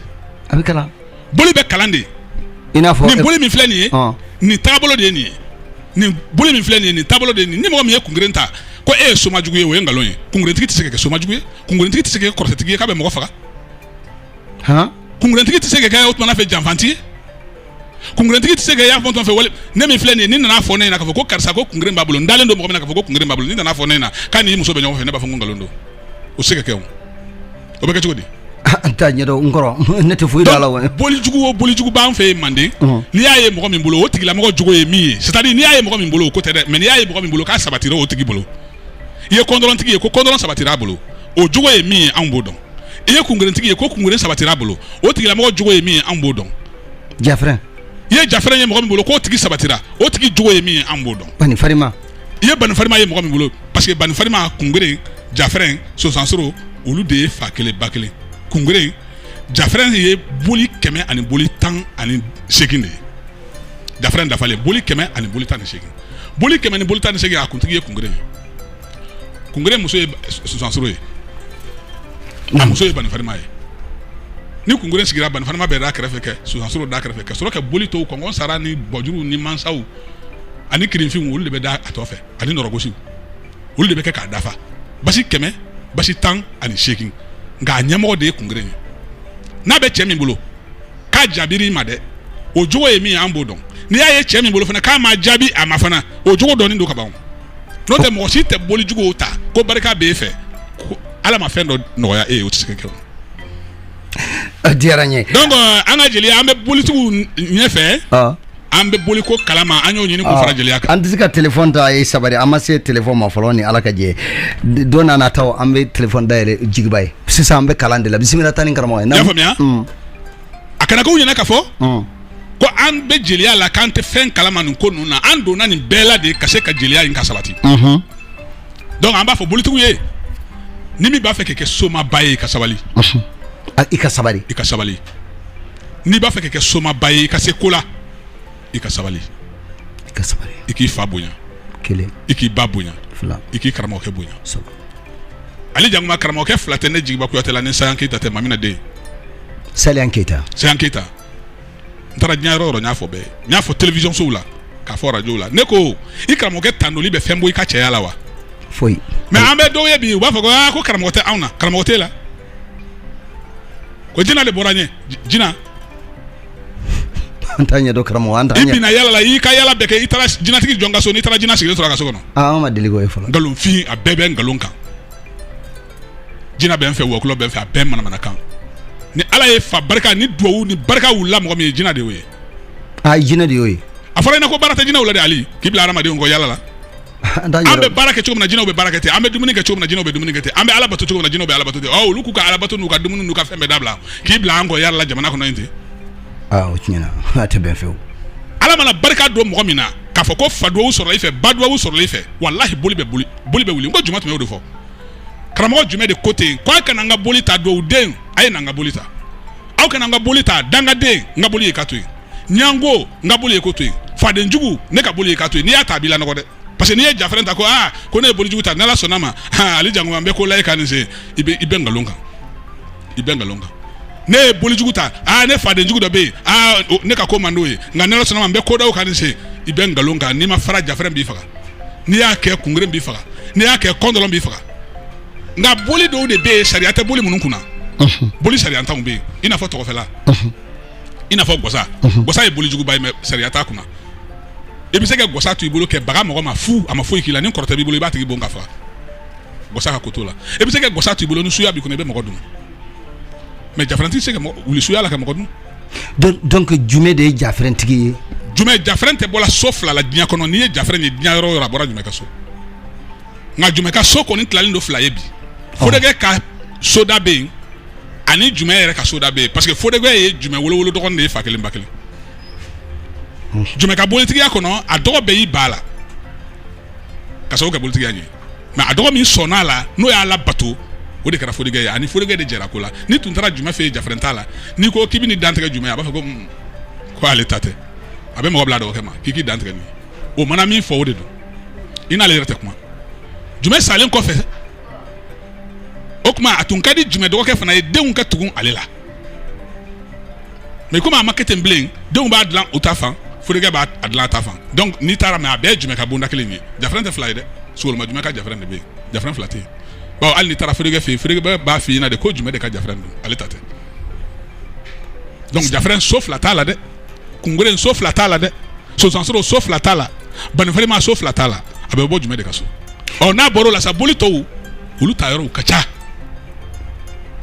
a bɛ kalan boli bɛ kalan de i n'a fɔ nin boli min filɛ nin ye nin taabolo de ye nin ye nin boli min filɛ nin ye nin taabolo de ye nin ni mɔgɔ min ye kungeren ta ko e ye somajugu ye o ye nkalon ye kungerentigi tɛ se ka kɛ somajugu ye kungerentigi tɛ se ka kɛ kɔrɔtɛtigi ye k'a bɛ mɔgɔ faga kungerentigi tɛ se ka kɛ o tuma fɛ janfantigi ye kungerentigi tɛ se ka y'a fɔ fɛ wale ne min filɛ nin n'i nana fɔ ne ɲɛna fɔ ko karisa ko kungeren b'a bolo n dalen don mɔgɔ min k'a fɔ ko kungeren b'a bolo n'i nana fɔ ne ɲɛna k'a ni muso bɛ ɲɔgɔn fɛ ne b'a fɔ ko nkalon don o se ka kɛ o bɛ kɛ cogo di n t'a ɲɛdɔn n kɔrɔ ne tɛ foyi dɔn a la wa bolijugu o bolijugu b'an fɛ yen manden n'i y'a ye mɔgɔ min bolo o tigilamɔgɔ jogo ye min ye c'est à dire n'i y'a ye mɔgɔ min bolo o ko tɛ dɛ mais n'i y'a ye mɔgɔ min bolo k'a sabatira o tigi bolo i ye kɔndɔlɔntigi ye ko kɔndɔlɔn sabatira a bolo o jogo ye min ye anw b'o dɔn i ye kungerentigi ye ko kungeren sabatira a bolo o tigilamɔgɔ jogo ye min ye anw b'o dɔn jafrɛn i ye jafrɛn ye mɔgɔ min bolo k'o tigi sabatira o tigi jogo ye min ye an b'o dɔn bani farima i ye bani farima ye mɔgɔ min bolo parce que bani farima kungeren jafrɛn sosansoro olu de ye fa kelen ba kelen kungeren jafrɛn ye boli kɛmɛ ani boli tan ani seegin de ye jafrɛn dafalen boli kɛmɛ ani boli tan ni seegin boli kɛmɛ ni boli tan ni seegin a kuntigi ye kungeren ye kungeren muso ye sosansoro ye a muso ye bani farima ye ni kungeren sigira bani farima bɛ da kɛrɛfɛ kɛ sosansoro da kɛrɛfɛ ka sɔrɔ ka boli tɔw kɔngɔn sara ni bɔjuru ni mansaw ani kirinfinw olu de bɛ da a tɔ fɛ ani nɔrɔgosiw olu de bɛ kɛ k'a dafa basi kɛmɛ basi tan ani seegin nka a ɲɛmɔgɔ de ye kungeren ye n'a bɛ cɛ min bolo k'a jaabira i ma dɛ o jogo ye min ye an b'o dɔn n'i y'a ye cɛ min bolo fana k'a ma jaabi a ma fana o jogo dɔnnen don ka ban n'o tɛ mɔgɔ si tɛ boli juguw ta ko barika b'e fɛ ko ala ma fɛn dɔ nɔgɔya e ye o tɛ se ka kɛ o a diyara n ye donc an ka jeliya an bɛ bolitigiw ɲɛfɛ an bɛ boli ko kalama an y'o ɲini k'o fara jeliya kan an tɛ se ka telefɔni ta a ye sabari an ma se telefɔni ma fɔlɔ ni ala ka jɛ don n'a nataw an bɛ telefɔni dayɛlɛ jigiba ye sisan an bɛ kalan de la bisimila taa ni karamɔgɔ ye. n y'a faamuya mm. a kana k'u ɲɛna ka fɔ mm. ko an bɛ jeliya la k'an tɛ fɛn kalama nin ko ninnu na an donna nin bɛɛ la de ka se ka jeliya in ka sabati mm-hmm. donc an b'a fɔ bolitigiw ye ni min b'a fɛ k'i kɛ somaba ye i ka sabali mm-hmm. ah, i ka sabali i ka sabali n'i b'a fɛ ka kɛ somaba ye i ka se ko la i ka sabali i ka sabali i k'i fa bonya kelen i k'i ba bonya fila i k'i karamɔgɔkɛ bonya saba ale jakuma karamɔgɔkɛ fila tɛ ne jigiba kuyate la ni sayan keyita tɛ mamina den sayan keyita sayan keyita n taara diɲɛ yɔrɔ o yɔrɔ n y'a fɔ bɛɛ n y'a fɔ télévision sow la k'a fɔ radio la ne ko i karamɔgɔkɛ tandoli bɛ fɛn bɔ i ka cɛya la wa foyi mais an bɛ dɔw ye bi u b'a fɔ ko ah, ko karamɔgɔ tɛ anw na karamɔgɔ tɛ la ko jina de bɔra ɲɛ jina an t'a ɲɛdɔn karamɔgɔ an t'a ɲɛ i bina yala la i ka yala bɛɛ kɛ i taara jinatigi jɔn ka so n'i taara jina sigilen sɔrɔ a ka so kɔnɔ aa an ma deli k'o ye fɔlɔ nkalonfin a bɛɛ bɛ nkalon kan jina bɛ n fɛ wɔkulɔ bɛ n fɛ a bɛɛ manamana kan ni ala ye fa barika ni duwawu ni barika wulila mɔgɔ min ye jina de y'o ye a jina de y'o ye a fɔra i na ko baara tɛ jinaw la de ali k'i bila hadamadenw kɔ yala la an bɛ baara kɛ cogo min na jinaw bɛ baara kɛ ten an bɛ dumuni kɛ cogo min na jinaw bɛ dumuni kɛ ten an bɛ ala bato cogo min na jinaw bɛ ala bato ten ɔ olu k'u ka ala bato n'u ka dumuni n'u ka fɛn bɛɛ dabila k'i bila an kɔ yala la jamana kɔnɔ yen ten aa o tiɲɛna a tɛ bɛn fewu ala mana barika don mɔgɔ min na k'a fɔ ko fa duwawu sɔrɔla i fɛ ba duwawu sɔrɔla i fɛ walahi boli bɛ boli boli bɛ wuli n ko jumɛn tun y'o de fɔ karamɔgɔ jumɛn de ko ten k'a kana n ka boli ta duwawu den a ye na n ka boli ta aw kana n ka boli ta dangaden n ka boli ye ka to yen jango n ka boli ye k'o to yen faden jugu ne ka boli ye ka to yen n'i y'a ta a b'i lanɔgɔ dɛ parce que n'i ye jafɛrɛn ta ko aa ko ne ye bolijugu ta n'ala sɔnna ma ale jango an bɛ ko la e kan nin sen i bɛ i bɛ nkalon kan i bɛ nkalon kan ne ye bolijugu ta aa ne faden jugu dɔ bɛ yen aa ne ka ko man d'o ye nka n'ala sɔnna ma n bɛ ko da o kan nin sen i bɛ nkalon kan n'i ma fara jafɛrɛn b'i faga n'i y'a kɛ kungeren b'i faga n'i y'a kɛ kɔndɔrɔn b'i faga nka boli dɔw de bɛ yen sariya tɛ boli minnu kunna boli sariyantanw bɛ yen i n'a fɔ tɔgɔfɛla i n'a fɔ gɔsa gɔsa ye bolijuguba ye mais sariya t'a kunna i bɛ se ka gɔsa to i bolo k'i baga mɔgɔ ma fu a ma foyi k'i la ni kɔrɔtɛ b'i bolo i b'a tigi bon k'a faga gɔsa ka koto la i bɛ se ka gɔsa to i bolo ni suya b'i kɔnɔ i bɛ mɔgɔ dun mais jafɛrɛntigi tɛ se ka wuli suya la ka mɔgɔ dun donc jumɛn de ye jafɛrɛntigi ye jumɛn jafɛrɛn tɛ bɔla so fila la diɲɛ kɔnɔ n'i ye jafɛrɛn ye diɲɛ yɔrɔ o yɔrɔ a bɔra jumɛn ka so nka jumɛn ka so kɔni tilalen don fila ye bi fodɛgɛ ka soda bɛ yen ani jumɛn yɛrɛ ka soda bɛ yen parce que fodɛgɛ ye jumɛn wolowolo dɔgɔnin de ye fa kelen ba kelen jumɛn ka bolitigiya kɔnɔ a dɔgɔ bɛɛ y'i ban a la k'a sababu kɛ bolitigiya ye mais a dɔgɔ min sɔnna a la n'o y'a labato o de kɛra fodɛgɛ ye a ni fodɛgɛ de jɛra ko la n'i tun taara jumɛn fɛ yen jafɛrɛn ta la n'i ko k'i bɛ nin dantigɛ jumɛn a b'a fɔ ko hmm, ko ale ta tɛ a bɛ mɔgɔ bila a dɔgɔkɛ ma k'i k'i dantigɛ ni o mana min fɔ o de don i n'ale yɛrɛ tɛ kuma jumɛn salen kɔfɛ o tuma a tun ka di jumɛn dɔgɔkɛ fana ye denw ka tugu ale la mais komi a ma kɛ ten bilen denw b'a dilan u ta fan furukɛ b'a dilan a ta fan donc n'i taara mais a bɛɛ jumɛn ka bonda kelen ye jafrɛn tɛ fila ye dɛ sogoloma jumɛn ka jafrɛn de bɛ yen jafrɛn fila tɛ yen bawo hali n'i taara furukɛ fɛ furukɛ b'a fɔ i ɲɛna de ko jumɛn de ka jafrɛn don ale ta tɛ donc jafrɛn so fila t'a la dɛ kungeren so fila t'a la dɛ sɔsansoro so fila t'a la banifarima so fila t'a la a bɛ bɔ jumɛn de ka so ɔ n'a bɔra o la sa boli tɔw olu ta yɔrɔw ka ca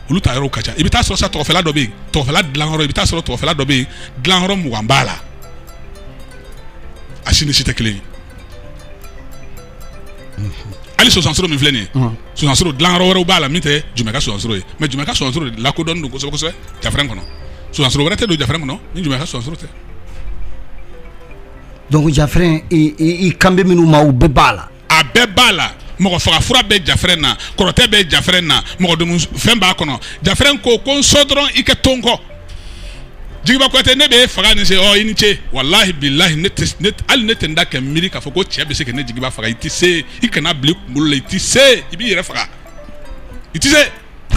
olu ta yɔrɔw ka ca i bɛ taa sɔrɔ sa tɔgɔfɛla dɔ bɛ yen tɔgɔfɛla dilanyɔrɔ i bɛ taa sɔrɔ tɔgɔfɛla dɔ bɛ yen dilanyɔrɔ mugan b'a la a si ni si tɛ kelen ye hali sɔsansoro min filɛ nin ye sɔsansoro dilanyɔrɔ wɛrɛw b'a la min tɛ jumɛn ka sɔsansoro ye mais jumɛn ka sɔsansoro de lakodɔnnen don kosɛbɛ kosɛbɛ jafrɛn kɔnɔ sɔsansoro wɛrɛ tɛ don jafrɛn kɔnɔ ni jumɛn ka sɔsansoro tɛ donc jafrɛn i kan bɛ minnu ma u bɛɛ b'a la a bɛɛ b'a la mɔgɔ faga fura bɛ jafrɛn na kɔrɔtɛ bɛ jafrɛn na mɔgɔ domu fɛn b'a kɔnɔ jafrɛn ko ko n sɔ dɔrɔn i ka to n kɔ jigiba kuyate ne bɛ e faga nin se ɔ i ni ce walahi bilahi ne tɛ ne hali ne tɛ n da kɛ miiri k'a fɔ ko cɛ bɛ se ka ne jigiba faga i tɛ se i kana bila i kunkolo la i tɛ se i b'i yɛrɛ faga i tɛ se.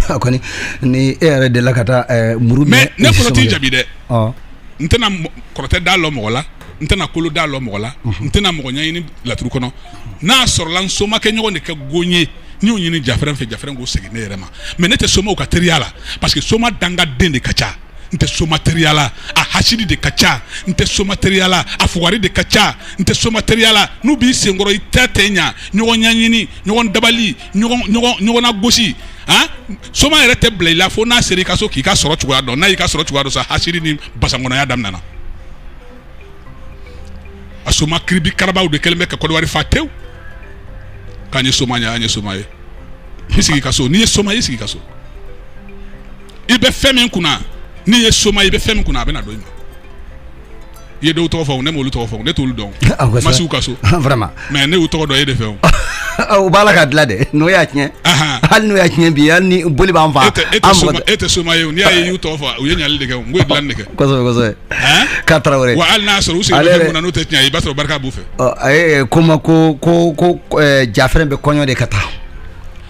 a kɔni ni e yɛrɛ delila ka taa eh, muru mais ne fɔlɔ t'i jaabi dɛ ɔ n tɛna mɔ- kɔrɔtɛ da lɔ mɔgɔ la n tɛna kolo da lɔ mɔgɔ la n tɛna mɔgɔ ɲɛɲini laturu kɔnɔ n'a sɔrɔla n somakɛ ɲɔgɔn de ka go n ye n y'o ɲini jafɛrɛn fɛ jafɛrɛn k'o segin ne yɛrɛ ma mais ne tɛ somaw ka teriya la parce que soma dangaden de ka ca n tɛ soma teriya la a hasidi de ka ca n tɛ soma teriya la a fugari de ka ca n tɛ soma teriya la n'u b'i senkɔrɔ i tɛ taa ɲɛ ɲɔgɔn ɲɛɲini ɲɔgɔn dabali ɲɔgɔnna gosi a soma yɛrɛ tɛ bila i la fo n'a sera i ka so k'i ka sɔrɔ cogoya dɔn n'a y'i ka sɔrɔ cogoya dɔn sa hasidi ni basankɔnɔya daminɛna a soma kiribi karabaw de kɛlen bɛ ka kɔdiwari fa tewu k'an ye soma ye an ye soma ye i sigi ka so n'i ye soma i sigi ka so i bɛ fɛn min kunna n'i ye soma i bɛ fɛn min kunna a bɛ na don i ma i ye dɔw tɔgɔ fɔ ne m'olu tɔgɔ fɔ ne t'olu dɔn ah, n ma s'u ka so vraiment mais ne y'u tɔgɔ dɔn e de fɛ o ah, u b'a la ka dilan dɛ n'u y'a tiɲɛ hali n'u y'a tiɲɛ bi hali ni boli b'an fa e, e tɛ soma ye n'i y'a ye i y'u tɔgɔ fɔ u ye ɲali de kɛ n ko u ye dilanni de kɛ kosɛbɛ kosɛbɛ k'a tarawele wa hali n'a sɔrɔ u sigilen bɛ mun na n'o tɛ tiɲɛ ye i b'a sɔrɔ barika b'u fɛ A ko ma ko ko ko jafrɛn bɛ kɔɲɔ de ka taa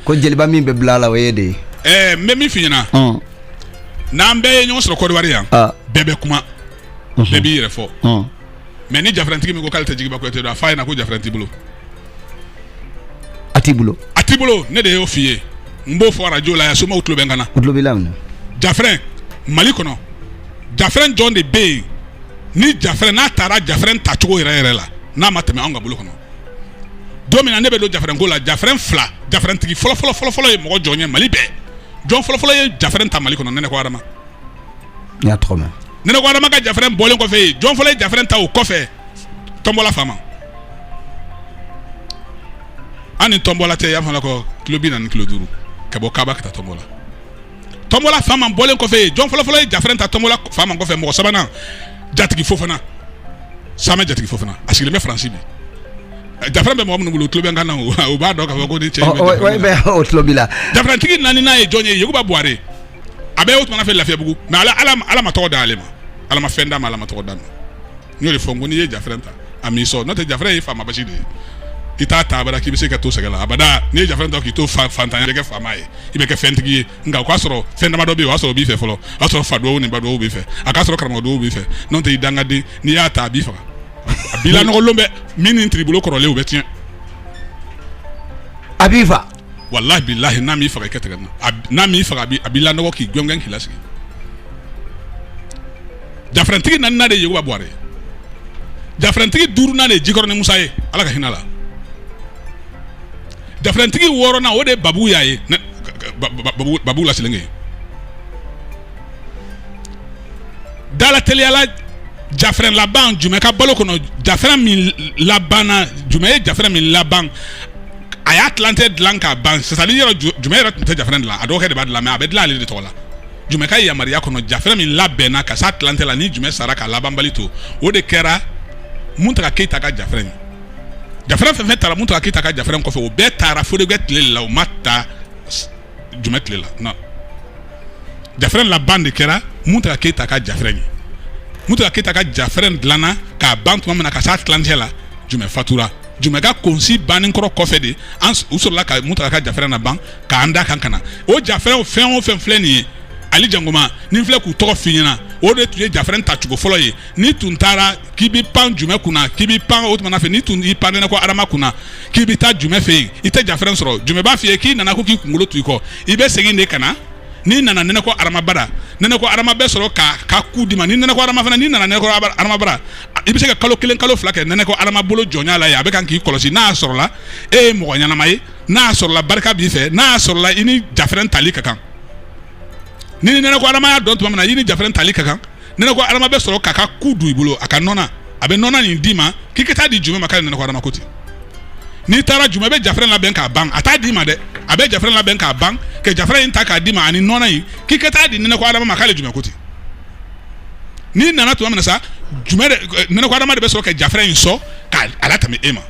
ko jeliba min bɛ bila a la o ye e de ye ɛɛ n bɛ min f'i ɲɛna n'an bɛɛ ye ɲɔgɔn sɔrɔ kɔdiwari yan bɛɛ bɛ kuma bɛɛ b'i yɛrɛ fɔ mais ni jafrɛntigi min ko k'ale tɛ jigiba kuyate dɔn a f'a ɲɛna ko jafrɛn t'i bolo a t'i bolo a t'i bolo ne de y'o f'i ye n b'o fɔ arajo la yan somaw tulo bɛ n kan na u tulo b'i lamɛn jafrɛn mali kɔnɔ jafrɛn jɔn de bɛ yen ni jafrɛn n'a taara jafrɛn tacogo yɛrɛ yɛrɛ la n'a ma tɛmɛ an ka bolo kɔnɔ don min na ne bɛ don jafrɛn ko la jafrɛn fila jafrɛntigi fɔlɔfɔlɔfɔlɔ ye mɔgɔ jɔn ye mali bɛɛ jɔn fɔlɔfɔlɔ ye jafrɛn ta mali kɔnɔ nɛnɛkɔ adama nɛnɛkɔ adama ka jafrɛn bɔlen kɔfɛ yen jɔn fɔlɔ ye jafrɛn ta o kɔfɛ tɔnbɔla fama an ni tɔnbɔla tɛ y'a fɔ la ko kilo bi naani ni kilo duuru ka bɔ kaba ka taa tɔnbɔla tɔnbɔla fama bɔlen kɔfɛ yen jɔn fɔlɔfɔlɔ ye jafrɛn ta tɔnbɔla fama kɔfɛ mɔgɔ sabanan jatigi fofana samɛ jatigi fofana a sigilen bɛ faransi bi jafrɛn bɛ mɔgɔ minnu bolo o tulo bɛ n kan na o o b'a dɔn k'a fɔ ko ni cɛ in bɛ Ɔ, ɔ, jafrɛn na. bɛ- o tulo b'i la jafrɛntigi naaninan ye jɔn ye yakuba buware a bɛ o tuma fɛ lafiyabugu mɛ ala ala ma- ala ma tɔgɔ d'ale ma ala ma fɛn d'a ma ala ma tɔgɔ d'a ma n y'o de fɔ n ko n'i ye jafrɛn ta a m'i sɔn n'o tɛ jafrɛn ye faama basi de ye i t'a ta abada k'i bɛ se ka to sɛgɛn la abada n'i ye jafrɛn ta k'i to fantanya i bɛ kɛ faama ye i bɛ kɛ fɛntigi ye nka o k'a sɔrɔ fɛn damadɔ bɛ yen o y'a sɔrɔ o b'i fɛ fɔlɔ o y'a sɔrɔ fa duwawu ni ba duwawu b'i fɛ a k'a sɔrɔ karamɔgɔ duwawu b'i fɛ n'o tɛ i dangaden n'i y'a ta a b'i faga a b'i lanɔgɔlen bɛ min ni tiribolo kɔrɔlen o bɛ tiɲɛ a b'i fa walahi bilahi n'a m'i faga i kɛ tigɛ na n'a m'i faga a b'i lanɔgɔ k'i gɔngɔn k'i lasigi jafrɛntigi naaninan de ye yakuba buware jafrɛntigi duurunan de ye jikɔrɔni musa ye ala ka hinɛ a la jafrɛntigi wɔɔrɔnan o de ye babuya ye babu la selenge da la teliyala jafrɛn laban jumɛn ka balo kɔnɔ jafrɛn min labanna jumɛn ye jafrɛn min laban a y'a tilancɛ dilan k'a ban c'est-à-dire jumɛn yɛrɛ tun tɛ jafrɛn dilan a dɔgɔkɛ de b'a dilan mɛ a bɛ dilan ale de tɔgɔ la jumɛn ka yamaruya kɔnɔ jafrɛn min labɛnna ka s'a tilancɛ la ni jumɛn sara k'a labanbali to o de kɛra muntaga keyita ka jafrɛn ye jafrɛn fɛn fɛn taara muntaga keyita ka jafrɛn kɔfɛ o bɛɛ taara fodekɛ tile la o ma ta jumɛn tile la non jafrɛn laban de kɛra muntaga keyita ka jafrɛn ye muntaga keyita ka jafrɛn dilanna k'a ban tuma min na ka s'a tilancɛ la jumɛn fatura jumɛn ka konsi bannen kɔrɔ kɔfɛ de u sɔrɔla ka muntaga ka jafrɛn laban k'an da kan ka na o jafrɛn fɛn o fɛn filɛ nin ye ali jankoma nin filɛ k'u tɔgɔ f'i ɲɛna o de tun ye jafrɛn tacogo fɔlɔ ye n'i tun taara k'i b'i pan jumɛn kunna k'i b'i pan o tuma fɛ n'i tun y'i pan nɛnɛkɔ adama kunna k'i bɛ taa jumɛn fɛ yen i tɛ jafrɛn sɔrɔ jumɛn b'a f'i ye k'i nana ko k'i kunkolo to i kɔ i bɛ segin de ka na n'i nana nɛnɛkɔ adama bara nɛnɛkɔ adama bɛ sɔrɔ k'a ka ku d'i ma ni nɛnɛkɔ adama fana n'i nana nɛnɛkɔ adama bara i bɛ se ka kalo kelen kalo fila kɛ nɛnɛkɔ adama bolo jɔnya la yen a bɛ kan k'i kɔlɔsi n'a sɔrɔla e ye mɔgɔ ɲɛnama ye n'a sɔrɔla barika b'i fɛ n'a sɔrɔla i ni jafrɛn tali ka kan ni ni nɛnɛkɔ adama y'a dɔn tuma min na i ni jafrɛn tali ka kan nɛnɛkɔ adama bɛ sɔrɔ k'a ka ku don i bolo a ka nɔnɔ a bɛ nɔnɔ nin d'i ma k'i ka taa di jumɛn ma k'ale nɛnɛkɔ adama ko ten n'i taara jumɛn bɛ jafrɛn labɛn k'a ban a t'a d'i ma dɛ a bɛ jafrɛn labɛn k'a ban ka jafrɛn in ta k'a d'i ma ani nɔnɔ in k'i ka taa di nɛnɛkɔ adama ma k'ale jumɛn ko ten n'i nana tuma min na sa jumɛn de eh, nɛnɛko adama de bɛ sɔrɔ ka jafrɛn in sɔn k'a latɛmɛ e ma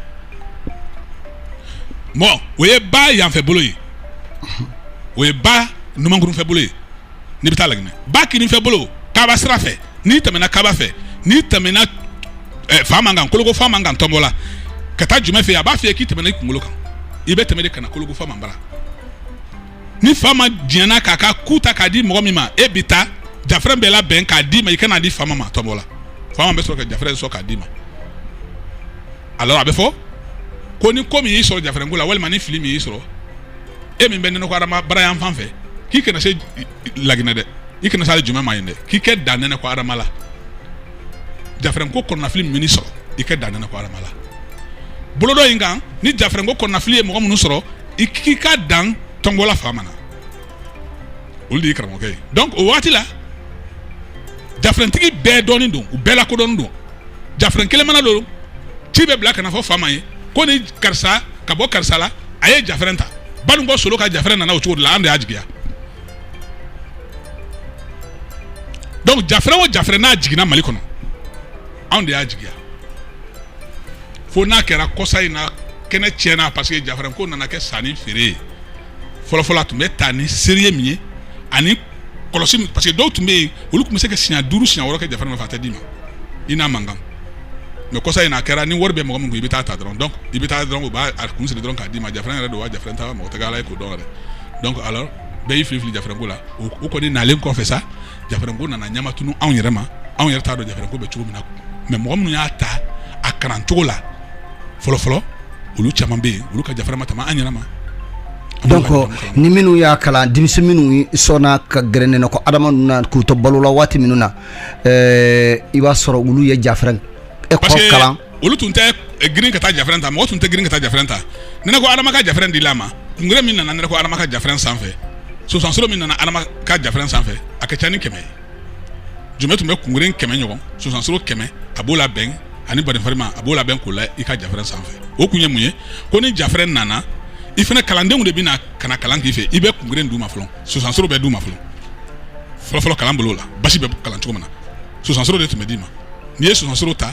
bon o ye ba yanfɛ bolo ye o ye ba numankurun fɛ bolo ye n'i bɛ taa laginɛ ba kinin fɛ bolo kaba sira fɛ n'i tɛmɛna kaba fɛ n'i tɛmɛna eh, fama kan koloko fama kan tɔnbɔla ka taa jumɛn fɛ a b'a f'i ye k'i tɛmɛna i kunkolo kan i bɛ tɛmɛ de ka na koloko fama bara ni fama diɲɛna k'a ka ku ta k'a di mɔgɔ min ma e bi taa jafrɛn bɛɛ labɛn k'a d'i ma i ka na di fama ma tɔnbɔla fama bɛ sɔrɔ ka jafrɛn sɔn k'a d'i ma alors a bɛ fɔ ko ni ko min y'i sɔrɔ jafrɛn ko la walima ni fili min y'i sɔrɔ e min bɛ nɛnɛko adama bara yan fan fɛ k'i kana se laginɛ dɛ i kana se ale jumɛn ma yen dɛ k'i kɛ dan nɛnɛko adama la jafrɛn ko kɔnɔnafili min y'i sɔrɔ i kɛ dan nɛnɛko adama la bolo dɔ in kan ni jafrɛn ko kɔnɔnafili ye mɔgɔ minnu sɔrɔ i k'i ka dan tɔnbɔla fama na olu de ye karamɔgɔkɛ ye donc o waati la jafrɛntigi bɛɛ dɔnnen don u bɛɛ lakodɔnnen don jafrɛn kelen mana don ci bɛ bila ka na fɔ fama ye ko ni karisa ka bɔ karisa la a ye jafrɛn ta banunkɔ solo ka jafrɛn nana o cogo de la an de y'a jigiya donc jafrɛn o jafrɛn n'a jiginna mali kɔnɔ anw de y'a jigiya fo n'a kɛra kɔsa in na kɛnɛ tiɲɛna parce que jafrɛn ko nana kɛ sanni feere ye fɔlɔfɔlɔ a tun bɛ taa ni sérieux min ye ani kɔlɔsi parce que dɔw tun bɛ yen olu tun bɛ se ka siɲɛ duuru siɲɛ wɔɔrɔ kɛ jafrɛn ma fa tɛ d'i ma i n'a man kan mais kɔsa in a kɛra ni wari bɛ mɔgɔ min kun i bɛ taa ta dɔrɔn donc i bɛ taa dɔrɔn u b'a kun siri dɔrɔn k'a d'i ma jafrɛn yɛrɛ don wa jafrɛn tɛ mɔgɔ tɛ k'a lajɛ k'o dɔn yɛrɛ donc alors bɛɛ y'i fili fili jafrɛn ko la o kɔni nalen kɔfɛ sa jafrɛn ko nana ɲɛma tunun anw yɛrɛ ma anw yɛrɛ t'a dɔn jafrɛn ko bɛ cogo min na mais mɔgɔ minnu y'a ta a kalancogo la fɔlɔfɔlɔ olu caman bɛ yen olu ka jafrɛn ma tɛmɛ an yɛrɛ ma donc ni minnu y'a kalan denmisɛn minnu sɔnna ka gɛrɛ nɛnɛko adama na k'u to balo la waati minnu na i b'a sɔrɔ olu ye jafrɛn école kalan olu tun tɛ eh, girin ka taa jafrɛn ta mɔgɔ tun tɛ girin ka taa jafrɛn ta nɛnɛko adama ka jafrɛn dila a ma kungurɛ min nana nɛnɛko adama ka jafrɛn sanfɛ sosansoro min nana adama ka jafrɛn sanfɛ a ka ca ni kɛmɛ ye jumɛn tun bɛ kungurɛ kɛmɛ ɲɔgɔn sosansoro kɛmɛ a b'o labɛn ani badenfarima a b'o labɛn k'o la i ka jafrɛn sanfɛ o kun ye mun ye ko ni jafrɛn nana i fana kalandenw de bɛna ka na kalan k'i fɛ i bɛ kungurɛ d'u ma fɔlɔ sosansoro bɛ d'u ma fɔlɔ fɔlɔfɔlɔ kalan bolo la basi bɛ kalan cogo min na sosansoro de tun bɛ d'i ma n'i ye sosansoro ta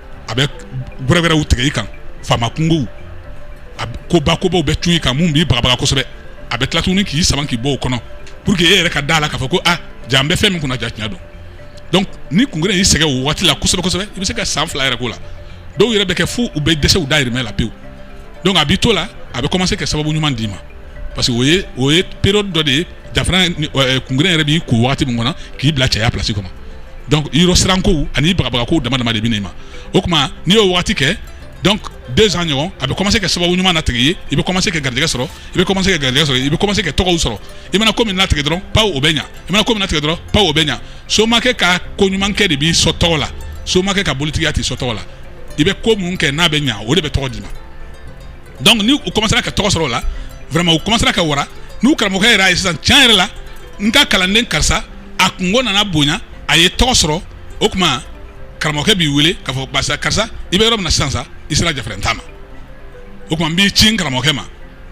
a bɛ gwɛrɛgwɛrɛw tigɛ i kan faama kunkow a b- koba kobaw bɛ cun i kan min b'i bagabaga kosɛbɛ a bɛ tila tuguni k'i sama k'i bɔ o kɔnɔ pour que e yɛrɛ ka da la k'a fɔ ko ah ja an bɛ fɛn min kunna ja tiɲɛ don donc ni kungurɛ y'i sɛgɛn o waati la kosɛbɛ kosɛbɛ i bɛ se ka san fila yɛrɛ k'o la dɔw yɛrɛ bɛ kɛ fo u bɛ dɛsɛ u dayirimɛ la pewu donc a b'i to la a bɛ commencer ka sababu ɲuman d'i ma parce que o ye o ye période dɔ de ye kungeren yɛrɛ b'i ko waati min kɔnɔ k'i bila cɛya plasi kɔnɔ donc yɔrɔ sirankow ani bagabagakow dama dama de bɛ n'i ma o kuma n'i y'o waati kɛ donc deux ans ɲɔgɔn a bɛ kɔmase kɛ sababu ɲuman natigɛ ye i bɛ kɔmase kɛ garijɛ sɔrɔ i bɛ kɔmase kɛ garijɛ sɔrɔ i bɛ kɔmase kɛ tɔgɔw sɔrɔ i mana ko min natigɛ dɔrɔn paw o bɛ ɲa i mana ko min natigɛ dɔrɔn paw o bɛ ɲa somakɛ ka ko ɲumankɛ de b'i sɔ tɔgɔ la somakɛ ka bolitigiya t'i sɔ tɔgɔ la i bɛ ko mun kɛ n'a bɛ ɲa o de bɛ tɔgɔ d'i ma dɔnku ni u kɔmasera ka tɔgɔ sɔrɔ o la vraiment u kɔmasera ka wara n'u karamɔgɔkɛ yɛrɛ a ye sisan can yɛrɛ la n ka kalanden karisa a kunko nana bonya a ye tɔgɔ sɔrɔ o kuma karamɔgɔkɛ b'i wele k'a fɔ basa karisa i bɛ yɔrɔ min na sisan sa i sera jafaran ta ma o kuma n b'i ci n karamɔgɔkɛ ma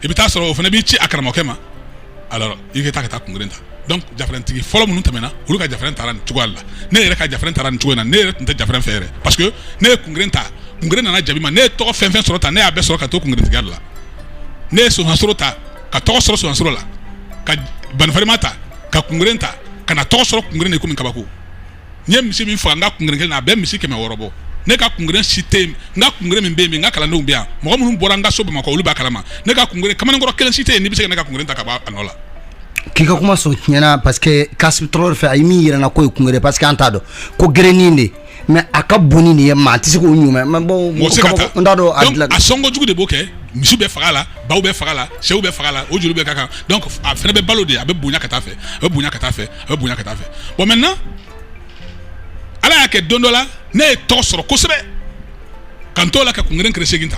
i bɛ taa sɔrɔ o fana b'i ci a karamɔgɔkɛ ma i ka taa ka taa kungeren ta donc jafarantigi fɔlɔ minnu tɛmɛna olu ka jafaran taara nin cogoya la ne yɛrɛ ka jafaran taara nin cogo in na ne yɛrɛ tun tɛ jafaran fɛ yɛrɛ parce que ne ye kungeren ta kungeren nana jaabi ma ne ye tɔgɔ fɛn fɛn sɔrɔ ta ne y'a bɛɛ sɔrɔ ka to kungerentigiya la ne ye sosansoro ta ka tɔgɔ sɔrɔ sosansoro la ka banifarima ta ka kungeren ta ka na tɔgɔ sɔrɔ kungeren na i kɔmi kabako n ye misi min faga n ka kungeren kelen na a bɛ misi kɛmɛ wɔɔrɔ bɔ ne ka kungeren si tɛ yen n ka kungeren min bɛ yen min n ka kalandenw bɛ yan mɔgɔ minnu bɔra n ka so bamakɔ olu b'a kalama ne ka kungeren kamalenkɔrɔ kelen si tɛ yen n'i bɛ se ka ne ka kungeren ta ka bɔ a nɔ la k'i ka kuma sɔn tiɲɛna parce que Kassim Traoré fɛ a ye min yira n na k'o ye kungere parce que an t'a dɔn ko gerennin de mais a ka bon ni nin ye maa tɛ se k'o ɲumɛ mais bon mɔgɔ tɛ se ka taa n t'a dɔn a donc dilan a sɔnko jugu de b'o kɛ misiw bɛ faga a la baw bɛ faga a la sɛw bɛ faga a la o joli bɛ k'a kan donc a fana bɛ balo de a bɛ bonya ka taa fɛ a bɛ bonya ka taa fɛ a bɛ bonya ka taa fɛ bon maintenant ala y'a kɛ don dɔ la ne ye tɔgɔ sɔrɔ kosɛbɛ ka n t'o la ka kungeren kere segin ta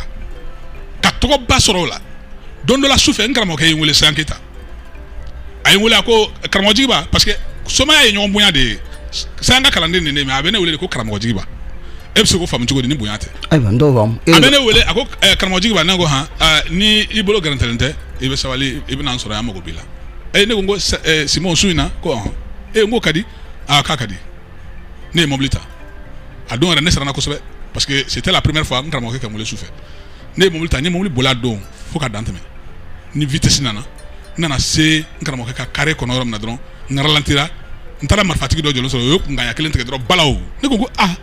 ka tɔgɔba sɔrɔ o la don dɔ la su fɛ n karamɔgɔkɛ ye n wele sayan keyita a ye n wele a ko karamɔgɔ jigiba parce que somaya ye ɲɔgɔn bonya de ye sayan ka kalanden nin de mais a bɛ ne wele de ko karamɔgɔ jigiba e bɛ se k'o faamu cogo di ni bonya tɛ ayiwa n t'o faamu a bɛ ne wele a ko karamɔgɔ jigiba ne ko han ni i bolo gɛrɛntɛlen tɛ i bɛ sabali i bɛ na n sɔrɔ yan mago b'i la e ne ko n ko eh, Simon su in na ko ɔhɔn e n ko ka di aa k'a ka di ne ye mobili ta a don yɛrɛ ne siranna kosɛbɛ parce que c'était la première fois n karamɔgɔkɛ ka n wele su fɛ ne ye mobili ta n ye mobili boli a don fo ka dan tɛmɛ ni vitesse nana n nana se n karamɔgɔkɛ ka carré kɔnɔ yɔrɔ min na dɔrɔn n ralentira n taara marifatigi dɔ jɔlen sɔrɔ o ye kunkanɲɛ kelen tigɛ dɔrɔn balaw ne ko n ko ah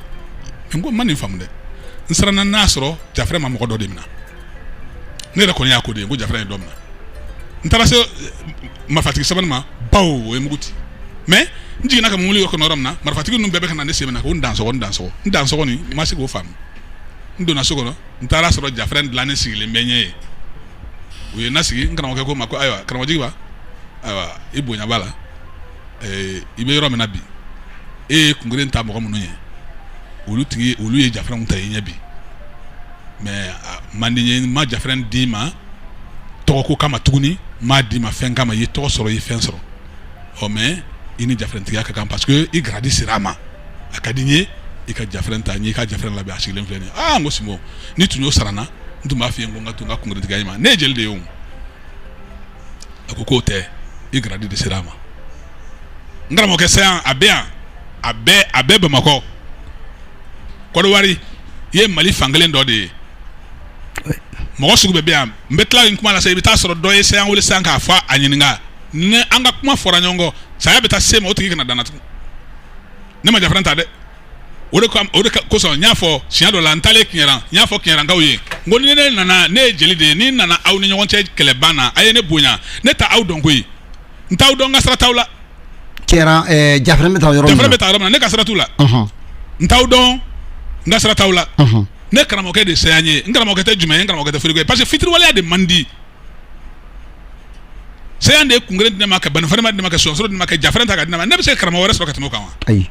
n ko n ma nin faamu dɛ n siranna n'a sɔrɔ jafrɛ ma mɔgɔ dɔ de minɛ ne yɛrɛ kɔni y'a ko de ye ko jafara ye dɔ minɛ n taara se marifatigi sabanan ma baw o ye mugu ci mais n jiginna ka mobili kɔnɔ yɔrɔ min na marifatigi ninnu bɛɛ bɛ ka na ne sen minɛ ko n dansɔgɔ n dansɔgɔ n dansɔgɔ nin n ma se k'o faamu n donna so kɔnɔ n taara sɔrɔ jafara in dilannen sigilen bɛ ɲɛ ye u ye n nasigi n karamɔgɔkɛ ko n ma ko ayiwa karamɔgɔ jigiba ayiwa i bonya b'a la ɛɛ i bɛ yɔrɔ min na bi e ye kungeren ta mɔgɔ minnu ɲɛ olu ye jafaranw ta i ɲɛ bi mais man di n ye ma jafrɛn d'i ma tɔgɔko kama tuguni m'a d'i ma fɛn kama i ye tɔgɔ sɔrɔ i ye fɛn sɔrɔ ɔ mais i ni jafrɛntigiya ka kan parce que i gradi sera a ma a ka di n ye i ka jafrɛn ta n' i ka jafrɛn labɛn a sigilen filɛ nin aa n ko sinbo ni tun y'o sara n na n tun b'a fɔ i ye ko n ka to n ka kungeretigiya ma ne ye jeli de ye a ko k'o tɛ i gradi de sera a ma n karamɔgɔkɛ sayan a bɛ yan a a bɛɛ bamakɔ kɔdiwari i ye mali fankelen dɔ de ye mɔgɔ sugu bɛɛ bɛ yan n bɛ tila nin kuma la sa i bɛ taa sɔrɔ dɔ ye sayan wele sisan k'a fɔ a ɲininka ni an ka kuma fɔra ɲɔgɔn kɔ saya bɛ taa se ma o tigi kana da n na tugun ne ma jafrɛn ta dɛ o de o de kosɔn n y'a fɔ siɲɛ dɔ la n taalen kiɲɛran n y'a fɔ kiɲɛrankaw ye n ko ni ne nana ne ye jeli de ye ni nana aw ni ɲɔgɔn cɛ kɛlɛban na a ye ne bonya ne t'aw dɔn koyi n t'aw dɔn n ka sira t'aw la. tiɲɛ na ɛɛ jafrɛn bɛ taa yɔrɔ min na jafrɛn bɛ taa yɔrɔ min na ne ka sira t'u la. n t'aw dɔn n ka sira t'aw la. ne karamɔgɔkɛ de ye sayan ye n karamɔgɔkɛ tɛ jumɛn ye n karamɔgɔkɛ tɛ foriko ye parce que fitiriwaleya de man di. sayan de ye kungere di ne ma ka banifalima di ne ma ka sɔsɔrɔ di ne ma ka jafrɛn ta ka di ne ma ne bɛ se ka karamɔgɔ wɛrɛ sɔrɔ ka tɛmɛ o kan wa ayi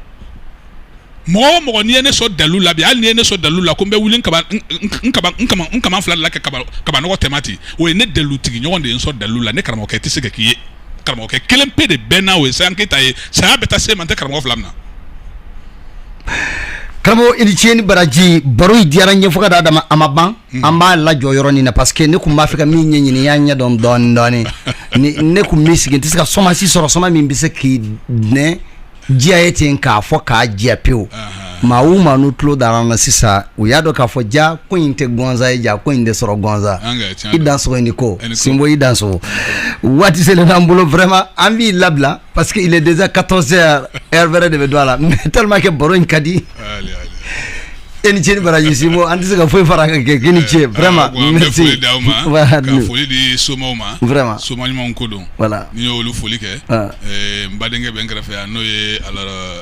mɔgɔ o mɔgɔ n'i ye ne sɔn dalu la bi hali n'i ye ne sɔn dalu la ko n bɛ wuli n kaba n n- n kaba n kama n kama fila de la ka kaba kabanɔgɔ tɛmɛ ten o ye ne dalu tigi ɲɔgɔn de ye n sɔn dalu la ne karamɔgɔkɛ tɛ se ka k'i ye karamɔgɔkɛ kelen pe de bɛ n na o ye sayan keyita ye saya bɛ taa se ma n tɛ karamɔgɔ fila minɛ karamɔgɔ i ni ce ni baraji baro in diyara n ye fo ka d'a dama a ma ban an b'a lajɔ yɔrɔ nin na parce que ne kun b'a fɛ ka min ɲɛɲini n y'a ɲɛdɔn dɔɔnin dɔɔnin ni ne kun bɛ sigi n tɛ se ka soma si sɔrɔ soma min bɛ se k'i dɛn diya ye ten k'a fɔ k'a jɛya pewu maa o maa n'u tulo dara an na sisan u y'a dɔn k'a fɔ ja ko in tɛ ganza ye ja ko in tɛ sɔrɔ ganza An kɛ, tiɲɛ i don. dansogo i ni ko I ni ko. sinbo i dansogo waati selen b'an bolo vraiment an b'i labila parce que il est déjà 14 heures heure wɛrɛ de bɛ don a la mais tellement que baro in ka di Allez, allez. e ni ce ni baraji sinbo an tɛ se ka foyi fara a kan kɛ k'i ni ce Eh, vraiment ah, bon, an bɛ merci foli d'aw ma, Voilà, ka nous. foli di somaw ma Vraiment. soma ɲumanw ko don voilà n'i y'olu foli kɛ Ah. eh, n badenkɛ bɛ n kɛrɛfɛ yan n'o ye alors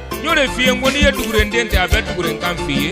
N'o de f'i ye ko n'i ye dugurenden tɛ a bɛ duguren kan f'i ye